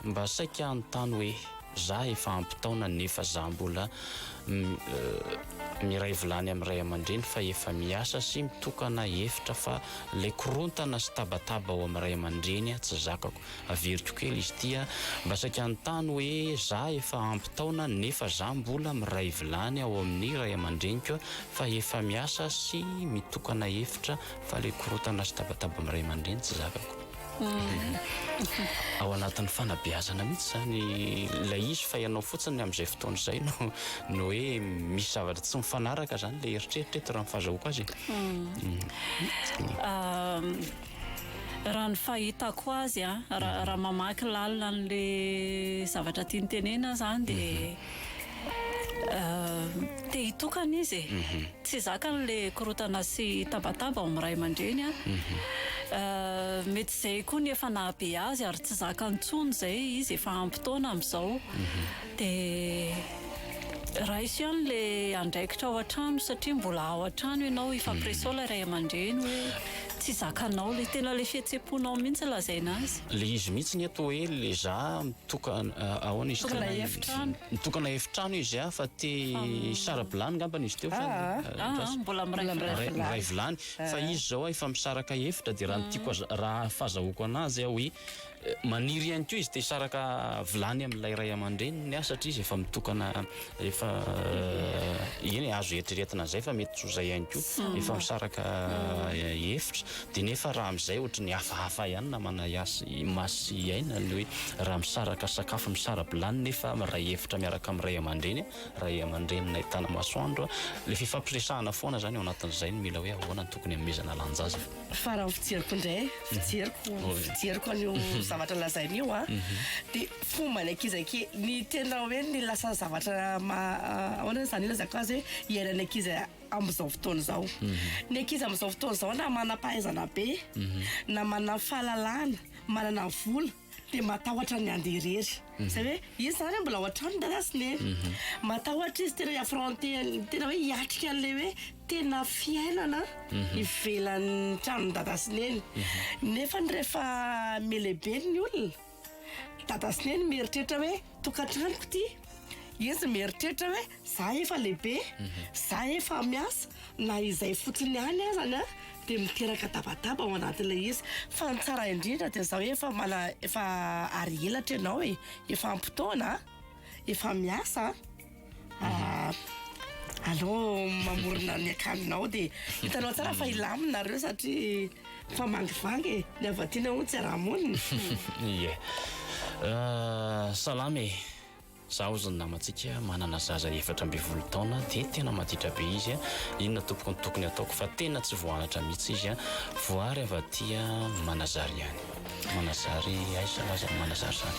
Mba saika hanontany hoe za efa ampy taona nefa za mbola miray vilany amin'ny ray aman-dreny fa efa miasa sy mitokana efitra fa ilay korontana sy tabataba ao amin'ny ray aman-dreny ah tsy zakako. Averiko kely izy ity ah, mba saika hanontany hoe za efa ampy taona nefa za mbola miray vilany ao amin'ny ray aman-dreniko ah fa efa miasa sy mitokana efitra fa ilay korontana sy tabataba amin'ny ray aman-dreny tsy zakako. Ao anatin'ny fanabeazana mihitsy izany ilay izy fa ianao fotsiny amin'izay fotoana izay no no hoe misy zavatra tsy mifanaraka izany ilay eritreritra eto raha ny fahazahoako azy. Raha ny fahitako azy a, raha raha mamaky lalina an'ilay zavatra tiany tenenina aho izany dia Te hitokana izy e. Mhm. Tsy zakany le korotana sy tabataba ao amin'ny ray aman-dreny a. Mhm. Euh, mety izay koa ny efa nahabe azy ary tsy zakany intsony izay izy efa ampy taona amin'izao. Mhm. Dia raiso ihany le andraikitra ao an-trano satria mbola ao an-trano ianao, ifampireseo ilay ray aman-dreny hoe. Tsy zakanao le tena le fihetseponao mihitsy lazaina azy. Le izy mihitsy ny eto hoe le za mitoka ahoana izy teo Mitokana efitrano. Mitokana efitrano izy a fa te hisara-bilany ngambany izy teo fa Aa mbola miray vilany. Miray vilany fa izy zao efa misaraka efitra de raha ny tiako raha fazahoako anazy a hoe Maniry ihany koa izy te hisaraka vilany amin'ilay ray aman-dreniny aho satria izy efa mitokana efa eny e, azo eritreretina izay fa mety tsy ho izay ihany koa, efa misaraka efitra dia nefa raha amin'izay ohatry ny hafahafa ihany namana Yasy, Masy sy Aina ny hoe raha misaraka sakafo, misara-bilany nefa miray efitra miaraka amin'ny ray aman-dreny, ray aman-dreninay Tanamasoandro, ilay fifampiresahana foana izany ao anatin'izay no mila hoe ahoana no tokony hanomezana lanja azy. Fa raha ny fijeriko indray, fijeriko, fijeriko an'io zavatra lazainy io an, dia fomba ny ankizy anke, ny tena hoe ny lasa zavatra maha, ahoana izany ilazako azy hoe iainan'ny ankizy amin'izao fotoana izao. Ny ankizy amin'izao fotoana izao na manam-pahaizana be, na manana fahalalana, manana vola, Dia matahotra ny handeha irery. Izay hoe, izy izany mbola ao an-trano ny dadasiny e. Matahotra izy tena hi-affronter an'ilay tena hoe hiatrika an'ilay hoe tena fiainana ivelan'ny tranon'ny dada sy neny. Nefa rehefa mihalehibe ny olona, dada sy neny mieritreritra hoe tokantranoko ity. Izy mieritreritra hoe Za efa lehibe, za efa miasa, na izay fotsiny ihany azany an, dia miteraka tabataba ao anatin'ilay izy. Fa ny tsara indrindra dia izao, efa mana, efa ary elatra ianao e, efa ampy taona, efa miasa an, aleo mamorona ny akanjonao dia hitanao tsara fa hilamina nareo satria efa mangivangy e, ny avy aty nahoa tsy hiaraha-monina. Ie. Salama e. Zaho sy ny namantsika manana zaza efatra ambin'ny folo taona dia tena maditra be izy a! Inona tompoko no tokony ataoko fa tena tsy voanatra mihitsy izy a! Voary avy aty Manazary ihany. Manazary aiza nga zany Manazary zany?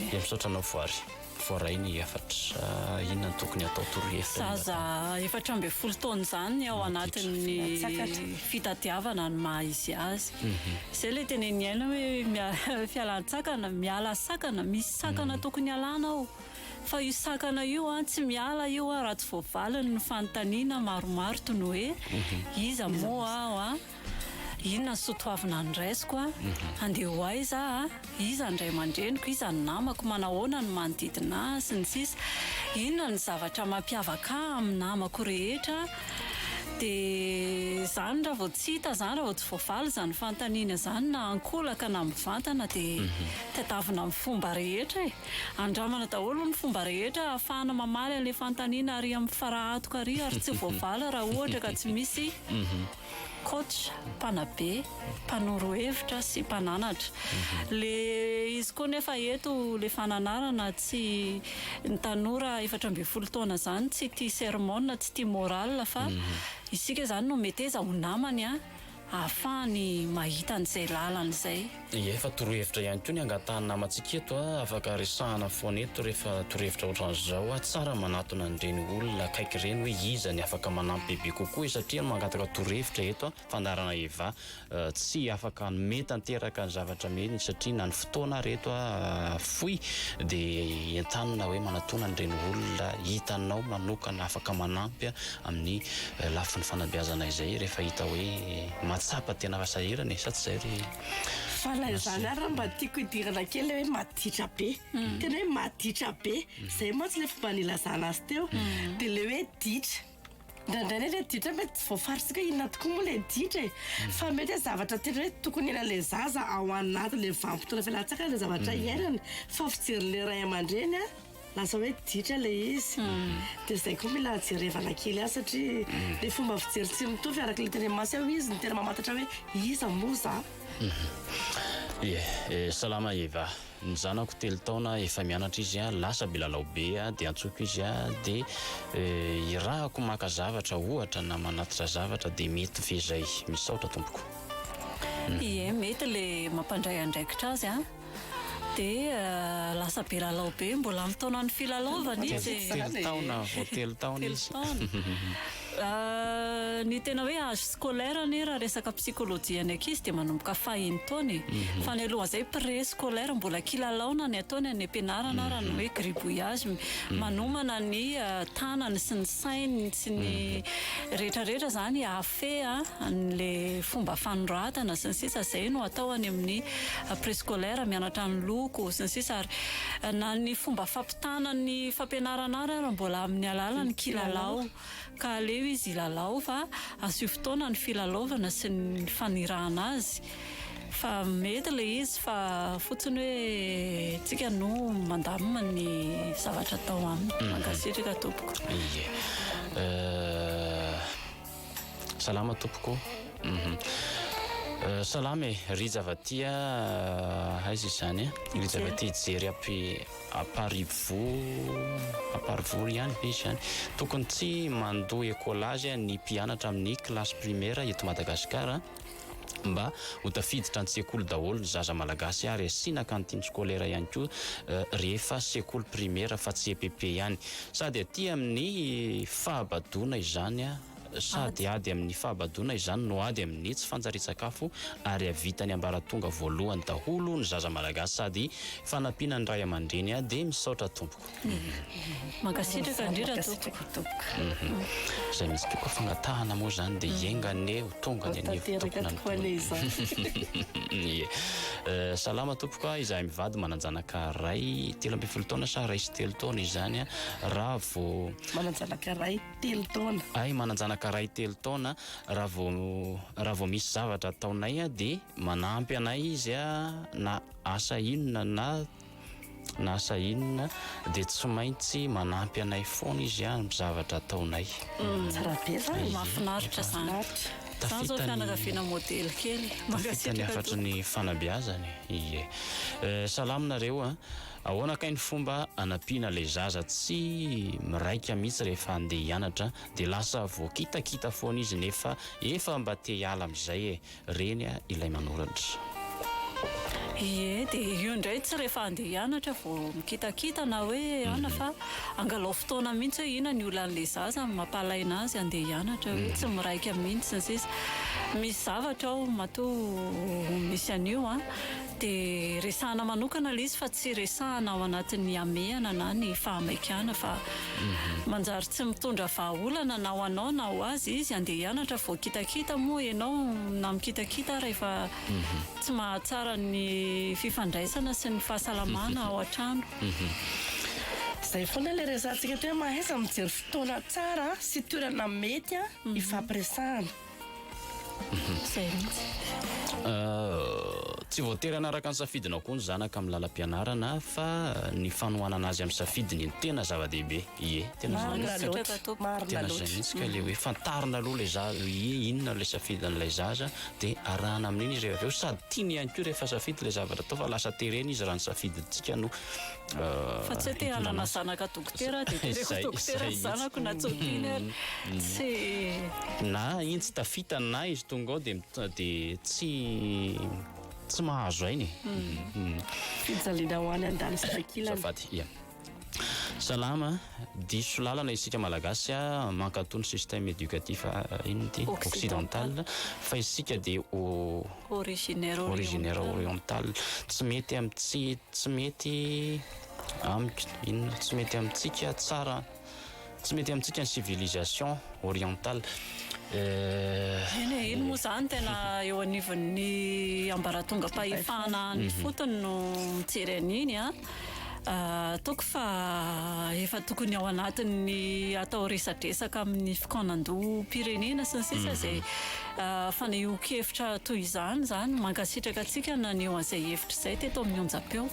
Dia misaotra anao Voary. Voaray ny efatra inona no tokony atao torohevitra inona? Zaza efatra ambin'ny folo taona izany ao anatin'ny fitadiavana ny maha izy azy. Izay ilay tenenin'i Aina hoe fialan-tsakana, miala sakana misy. Sakana tokony alana ao. Fa io sakana io an, tsy miala io an raha tsy voavaliny ny fanontaniana maromaro toy ny hoe, iza moa aho an? Inona ny soa toavina noraisiko an? Handeha ho aiza aho an? Iza ny ray aman-dreniko? Iza ny namako? Manahoana ny manodidina ahy? sy ny sisa Inona ny zavatra mampiavaka ahy amin'ny namako rehetra? dia izany raha vao tsy hita izany, raha vao tsy voavaly izany fanontaniana izany na ankolaka na mivantana dia mhm. tadiavina amin'ny fomba rehetra e. Andramana daholo ny fomba rehetra ahafahana mamaly an'ilay fanontaniana ary amin'ny farahatoka ary ary tsy voavaly raha ohatra ka tsy misy mhm. coach mpanabe. mpanoro hevitra sy mpananatra. Le izy koa nefa eto le fananarana tsy ny tanora efatra ambin'ny folo taona zany tsy tia sermona, tsy tia morale fa mhm. isika zany no meteza ho namany a ahafahany mahita an'izay lalany zay. Ie fa torohevitra ihany koa ny angatahan'ny namantsika eto a afaka resahana foana eto rehefa torohevitra ohatran'izao a tsara manatona an'ireny olona akaiky ireny hoe iza ny afaka manampy bebe kokoa e satria mangataka torohevitra eto a fandaharana Eva tsy afaka hanome tanteraka ny zavatra mihitsy satria na ny fotoana ary eto fohy dia entanina hoe manatona an'ireny olona hitanao manokana afaka manampy amin'ny lafiny fanabeazana izay rehefa hita hoe mahatsapa tena fasahirana e sa tsy izay ry Fa na izany ary mba tiako hidirana kely ilay hoe maditra be tena hoe maditra be izay mantsy ilay fomba nilazana azy teo dia ilay hoe ditra Indraindray ilay ilay ditra mety tsy voafaritr'tsika hoe inona tokoa moa ilay ditra e. Fa mety hoe zavatra tiana hoe tokony hiainan'ilay zaza ao anatin'ilay vanim-potoana fialantsakany ilay zavatra mm. iainany. Fa fijerin'ilay ray aman-dreny a, lasa hoe ditra ilay izy. Mm. Dia izay koa mila jerevana kely ahy satria mm. ilay fomba fijery tsy mitovy araka ilay teny masy ao izy no tena mamantatra hoe iza moa za. Mm-hmm. Eh, eh, salama Eva. Ny zanako telo taona efa mianatra izy lasa bilalao be dia antsoiko izy dia irahako maka zavatra ohatra na manatitra zavatra dia mety ve zay? Misaotra tompoko. Ie mety le mampandray andraikitra azy an! dia lasa bilalao be mbola mitaona ny filalaovana izy e! Telo taona vao telo taona izy. Ny tena hoe âge scolaire anie raha resaka psychologie ny ankizy dia manomboka faha enin-taona e. Fa ny alohan'izay pré scolaire mbola kilalaona ny ataony any am-pianarana raha ny hoe gribouillage. Manomana ny tanany sy ny sainy sy ny rehetra rehetra izany hahafehy an'ilay fomba fanoratana sy ny sisa. Izay no atao any amin'ny pré scolaire, mianatra ny loko sy ny sisa ary na ny fomba fampitondrana Tana ny fampianarana ary ary mbola amin'ny alalan'ny kilalao ka aleo izy hilalao fa asio fotoana ny filalaovana sy ny fanirahana azy fa mety ilay izy fa fotsiny hoe tsika no mandamina ny zavatra atao aminy. Mankasitraka tompoko. Ie. Salama tompoko. Salama e, Rija Vatia, aiza izany e? Rija Vatia Jery App. Aparivo Aparivo ry ihany ve izy ihany? Tokony tsy mandoa écolage ny mpianatra amin'ny classe primaire eto Madagasikara mba ho tafiditra an-tsekoly daholo ny zaza malagasy ary asiana cantine scolaire ihany koa rehefa sekoly primaire fa tsy EPP ihany. Sady aty amin'ny fahabadoana izany. Sady ady amin'ny fahabadoana izany no ady amin'ny tsy fanjarian-tsakafo ary havitan'ny ambaratonga voalohany daholo ny zaza malagasy sady fanampiana ny ray aman-dreny dia misaotra tompoko. Mankasitraka indrindra tompoko. Izay mihitsy tompoko fangatahana moa izany dia enga anie ho tonga ny anivo tompoko. Ie. Salama tompoko a, izahay mivady manan-janaka iray telo ambin'ny folo taona sa iray sy telo taona izany a, raha vao. Manan-janaka iray. telo taona. Ahy manan-janaka iray telo taona, raha vao raha vao misy zavatra ataonay dia manampy anay izy na asa inona na na asa inona dia tsy maintsy manampy anay foana izy amin'ny zavatra ataonay. Tsara be izany, mahafinaritra izany. Izany izao fianakaviana modely kely. Mankasitraka tompoko. Tafita ny hafatry ny fanabeazana e. Salama nareo a. Ahoana kay ny fomba anampiana ilay zaza tsy miraika mihitsy rehefa handeha hianatra dia lasa voakitakita foana izy nefa efa mba te hiala amin'izay e! Reny ilay manoratra. Ie, dia io indray tsy rehefa handeha hianatra vao mikitakita na hoe anona fa angalao fotoana mihitsy hoe inona ny olan'ilay zaza amin'ny mampalaina azy handeha hianatra hoe tsy miraika mihitsy sy ny sisa. Misy zavatra ao matoa misy an'io an! Dia resahana manokana ilay izy fa tsy resahana ao anatin'ny hamehana na ny fahamaikana fa manjary tsy mitondra vahaolana na ho anao na ho azy izy andeha hianatra vao kitakita moa ianao na mikitakita ary efa tsy mahatsara ny fifandraisana sy ny fahasalamana ao an-trano. Izay foana ilay resahantsika teo hoe mahaiza mijery fotoana tsara sy toerana mety hifampiresahana. Izay mihitsy. Tsy voatery hanaraka ny safidinao koa ny zanaka amin'ny lalam-pianarana fa ny fanohanana azy amin'ny safidiny no tena zava-dehibe. Ie, tena marina loatra. Tena izay mihitsy ka ilay hoe fantarina aloha ilay zaza hoe ie inona ilay safidin'ilay zaza dia arahana amin'iny izy rehefa avy eo sady tiany ihany koa rehefa safidy ilay zavatra atao fa lasa terena izy raha ny safidintsika no Fa tsy hoe te hanana zanaka dokotera dia teneniko ho dokotera ny zanako na tsompina ary. Tsy. Na iny tsy tafita na izy tonga ao dia dia tsy tsy mahazo aina e. Fijaliana ho any an-danitra ankilany. Azafady, ia. Salama. Diso lalana isika malagasy a, mankato ny système éducatif inona ity? occidental, fa isika dia originaire originaire oriental, tsy mety am tsy tsy mety amik inona? tsy mety amintsika tsara tsy mety amintsika ny civilisation oriental eh, eny e, eny moa zany tena eo anivon'ny ambaratongam-pahefana any fotony no mijery an'iny a. Ataoko fa efa tokony ao anatin'ny atao resadresaka amin'ny fikaonandoham-pirenena sy ny sisa izay fanehoan-kevitra toy izany izany. Mankasitraka antsika naneho an'izay hevitra izay teto amin'ny onjam-peo.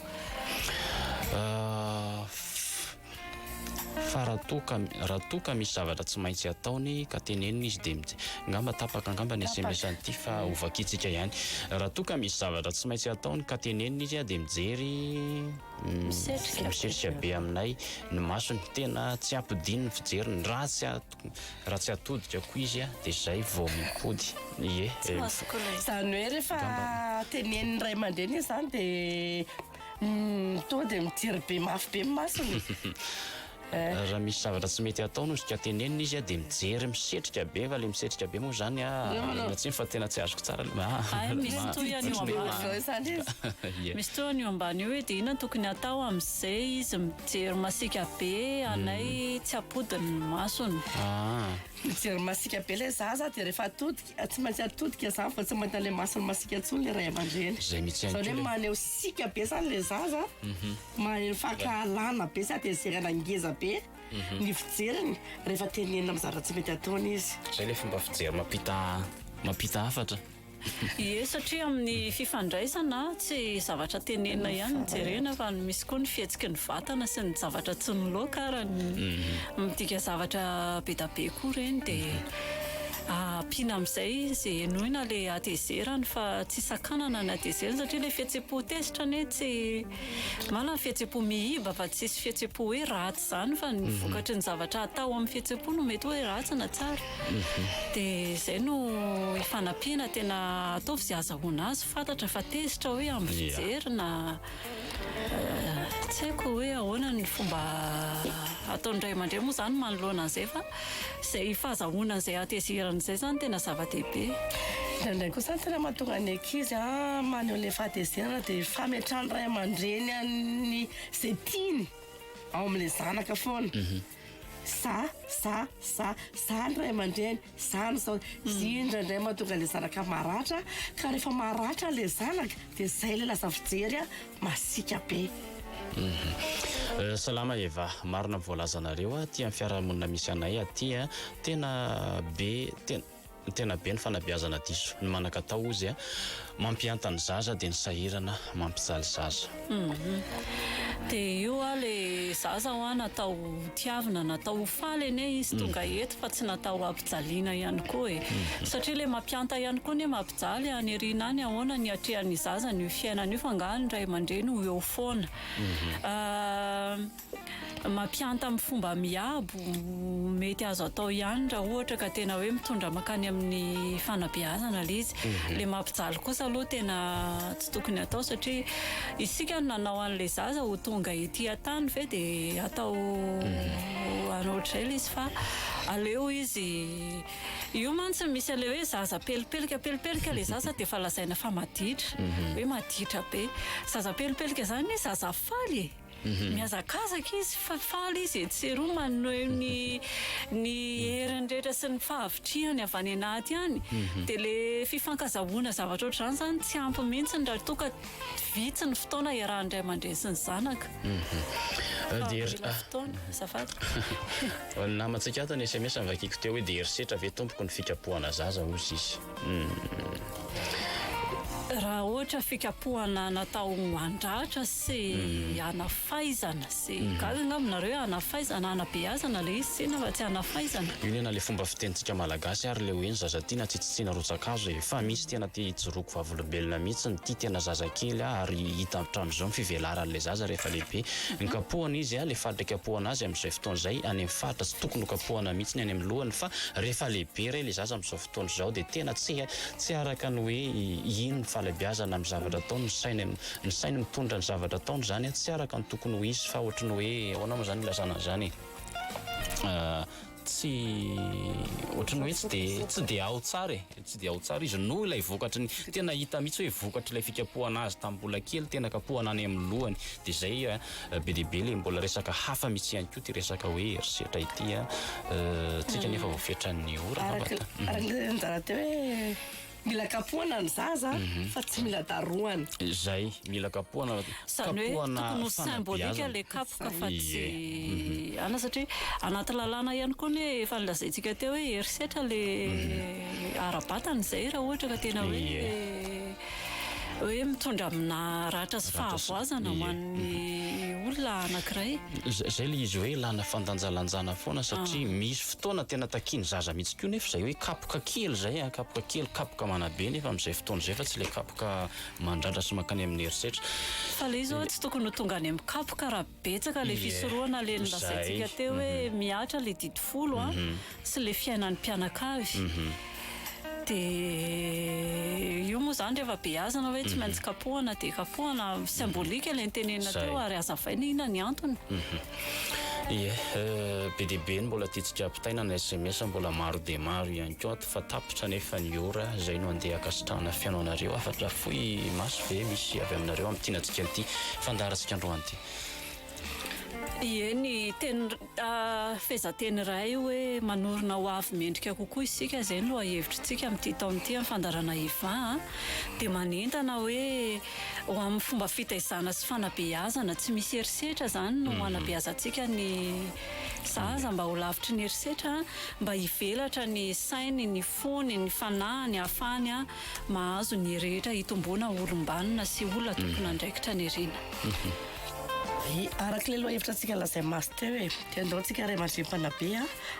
Fa raha toa ka, raha toa ka misy zavatra tsy maintsy ataony ka tenenina izy dia mij. Angamba tapaka angamba ny sms an'ity fa ho vakiantsika ihany. Raha toa ka misy zavatra tsy maintsy ataony ka tenenina izy dia mijery, misetrika be aminay ny masony, tena tsy ampidino ny fijeriny, raha tsy raha tsy atodika koa izy dia izay vao mipody. Ie. Izany hoe rehefa tenenin'ny ray aman-dreny izany dia. Toa dia mijery be mafy be ny masony e! Raha misy zavatra tsy mety ataonao izy ka tenenina izy dia mijery misetrika be fa ilay misetrika be moa izany aza tsiny fa tena tsy azoko tsara ilay misy tohiny io ambany io misy tohiny io ambany io hoe dia inona no tokony hatao amin'izay izy mijery masiaka be anay tsy ampodiny ny masony mijery masiaka be ilay zaza dia rehefa atody Tsy maintsy atodika zany fa tsy mahita le masony masika tsony le ray aman-dreny. Zay mitsy ihany Zany hoe maneho sika be zany le zaza, mhm. maneho fankahalana be sady ezerana ngeza be mhm. ny fijeriny rehefa tenenina amin'ny zavatra tsy mety ataony izy. Zay le fomba fijery mampita mampita hafatra. Ie satria amin'ny fifandraisana tsy zavatra tenenina ihany ny jerena fa misy koa ny fihetsiky ny vatana sy ny zavatra tsy miloaka ary mhm. midika zavatra be da be koa ireny dia Ampiana amin'izay izay henoina ilay hatezerany fa tsy sakanana ny hatezerany satria ilay fihetsem-po tezitra anie tsy, marina ny fihetsem-po miiba fa tsisy fihetsem-po hoe ratsy izany fa ny vokatry ny zavatra atao amin'ny fihetsem-po no mety hoe ratsy na tsara. Dia izay no ifanampiana tena ataovy izay azahoana azy fantatra fa tezitra hoe amin'ny fijery na. Tsy haiko hoe ahoana ny fomba ataon'ny ray aman-dreny moa izany manoloana an'izay fa izay fahazahoana an'izay hatezerana izay izany no tena zava-dehibe. Indraindray kosa ny tena mahatonga ny ankizy maneho ilay fahatezerana dia ny fametrahan'ny ray aman-dreny an'ny izay tiany ao amin'ilay zanaka foana. Za, za, za, za ny ray aman-dreny. Izany izao, indraindray mahatonga ilay zanaka maratra, ka rehefa maratra ilay zanaka dia izay ilay lasa fijery masiaka be. Salama Eva, marina ny voalazanareo aty amin'ny fiarahamonina misy anay aty a, tena be tena tena be ny fanabeazana diso ny manakatao ozy a, mampianta ny zaza dia ny sahirana mampijaly zaza. Dia io hoa le zaza hoa natao ho tiavina, natao ho faly anie izy tonga eto fa tsy natao ho ampijaliana ihany koa e. Satria le mampianta ihany koa anie mampijaly any aoriana any ahoana ny hatrehan'ny zaza an'io fiainana io fa angaha ny ray aman-dreny ho eo foana. Mampianta amin'ny fomba miabo. Mety azo atao ihany raha ohatra ka tena hoe mitondra mankany amin'ny fanabeazana ilay izy. Ilay mampijaly kosa aloha tena tsy tokony atao satria isika no nanao an'ilay zaza ho tonga ety an-tany ve dia hatao hanao ohatr'izay ilay izy fa aleo izy. Io mantsy misy an'ilay hoe zaza pelipelika, pelipelika ilay zaza dia efa lazaina fa maditra, hoe maditra be. Zaza pelipelika izany zaza faly e! Mihazakazaka izy fa faly izy etsy sy eroa manoeo ny ny heriny rehetra sy ny fahavitrihany avy any anaty any dia le fifankazahoana zavatra ohatr'izany izany tsy ampy mihitsy raha toa ka vitsy ny fotoana iarahan'ny ray aman-dreny sy ny zanaka fa mila fotoana azafady. Ny namantsika ato ny sms nivakiko teo hoe dia herisetra ve tompoko ny fikapohana zaza hoy izy. Raha ohatra fikapohana natao handratra sy hanafaizana sy gaga angamba nareo hoe hanafaizana, hanabeazana ilay izy tsinona fa tsy hanafaizana. Io nena le fomba fitenintsika malagasy ary le hoe ny zaza tiana tsy tsitsiana rotsakazo e! Fa misy tena te hijoroako vavolombelona mihitsy ny tia tena zaza kely a! ary hita hatramin'izao ny fivelaran' le zaza rehefa lehibe! ny kapohana izy a! le faritra ikapohana azy amin'izay fotoana izay any amin'ny faritra tsy tokony ho kapohana mihitsy ny any amin'ny lohany fa rehefa lehibe re le zaza amin'izao tontolo izao dia tena tsy tsy araka ny hoe ino ny fahalebiazana amin'ny zavatra ataony, ny sainy ny sainy mitondra ny zavatra ataony izany tsy araka ny tokony ho izy fa ohatry ny hoe ahoana moa izany ilazana an'izany e tsy ohatry ny hoe tsy de tsy de ao tsara e tsy de ao tsara izy noho ilay vokatry ny tena hita mihitsy hoe vokatry ilay fikapohana azy tamin'ny mbola kely tena kapohana any amin'ny lohany de zay Be dia be le mbola resaka hafa mitsy ihany koa ty resaka hoe herisetra ity a. Tsika nefa vao fetran'ny ora. Araka le anjara teo hoe mila kapohana ny zaza mhm. fa tsy mila darohana. Zay mila kapohana. Zany hoe tokony ho symbolique le kapoka fa tsy mhm. ana satria anaty lalàna ihany koa ny efa nilazaintsika teo hoe herisetra le mhm. ara-batana izay raha ohatra ka tena hoe hoe mitondra amina ratra sy fahavoazana ho an'ny olona anankiray. Zay le izy hoe lana fandanjalanjana foana satria ah. misy fotoana tena takian'ny zaza mihitsy koa nefa zay hoe kapoka kely zay a, ah, kapoka kely, kapoka manabe nefa amin'izay fotoana zay fa tsy le kapoka mandratra sy mankany amin'ny herisetra. Fa le izy oa tsy tokony ho tonga any amin'ny kapoka raha Betsaka ilay fisorohana ilay nolazaintsika teo hoe mihatra ilay didy folo a, sy ilay fiainan'ny mpianakavy. Dia io moa izany rehefa beazina hoe tsy maintsy kapohana dia kapohana. Symbolique ilay notenenina teo ary hazavaina inona ny antony. Ie, be dia be ny mbola tiantsika ampitaina na sms mbola maro dia maro ihany koa. Fa tapitra anefa ny ora, zay no andeha akasitrahana fihaino anareo, hafatra fohy maso ve misy avy aminareo amin'ity nadikany ity fandaharantsika androany ity? Ie, ny teny fehezanteny iray hoe manorina ho avy mendrika kokoa isika, izay no lohahevitritsika amin'ity taona ity amin'ny fandaharana Eva a, dia manentana hoe ho amin'ny fomba fitaizana sy fanabeazana tsy misy herisetra izany no hanabeazantsika ny Za aza mba ho lavitry ny herisetra mba hivelatra ny sainy, ny fony, ny fanahiny ahafahany mahazo ny rehetra hitomboana ho olombanona sy olona tompon'andraikitra ny rina. Araka ilay lohahevitra antsika lazain'i Masy teo hoe dia andao tsika ray aman-dreny mpanabe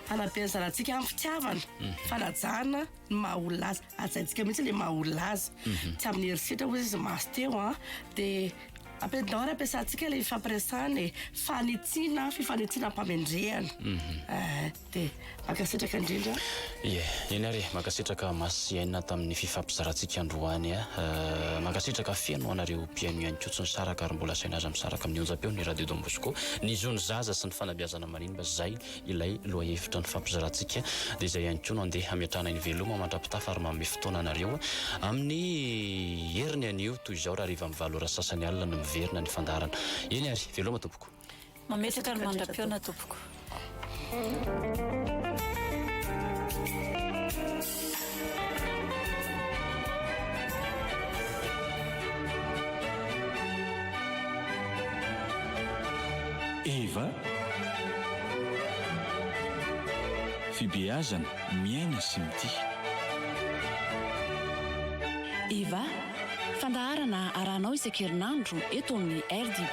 hanabe ny zanatsika amin'ny fitiavana, fanajana ny maha olona azy, hajaintsika mihitsy ilay maha olona azy tsy amin'ny herisetra hoy izy Masy teo dia. Appel d'or ampiasantsika ilay fifampiresahana e, fanitsiana, fifanitsiana am-pamendrehana. Mhm. Eh, dia mankasitraka indrindra. Ie, eny ary e, mankasitraka Masiaina tamin'ny fifampizarantsika androany a. Eh, mankasitraka feno ho anareo mpihaino ihany koa tsy nisaraka ary mbola asaina aza misaraka amin'ny onjam-peo ny Radio Don Bosco. Ny zon'ny zaza sy ny fanabeazana maninona izay. ilay lohahevitra nifampizarantsika dia izay ihany koa no andeha hametrahana eny veloma mandra-pitafa ary manome fotoana anareo amin'ny heriny anio toy izao raha harivan'ny valo ora sasany alina no miverina ny fandaharana eny ary veloma tompoko mametraka ny mandra-pihaona tompoko Eva, Fibeazana, Miaina sy Mitia. Eva, Fandaharana arahanao isan-kerinandro eto amin'ny RDB.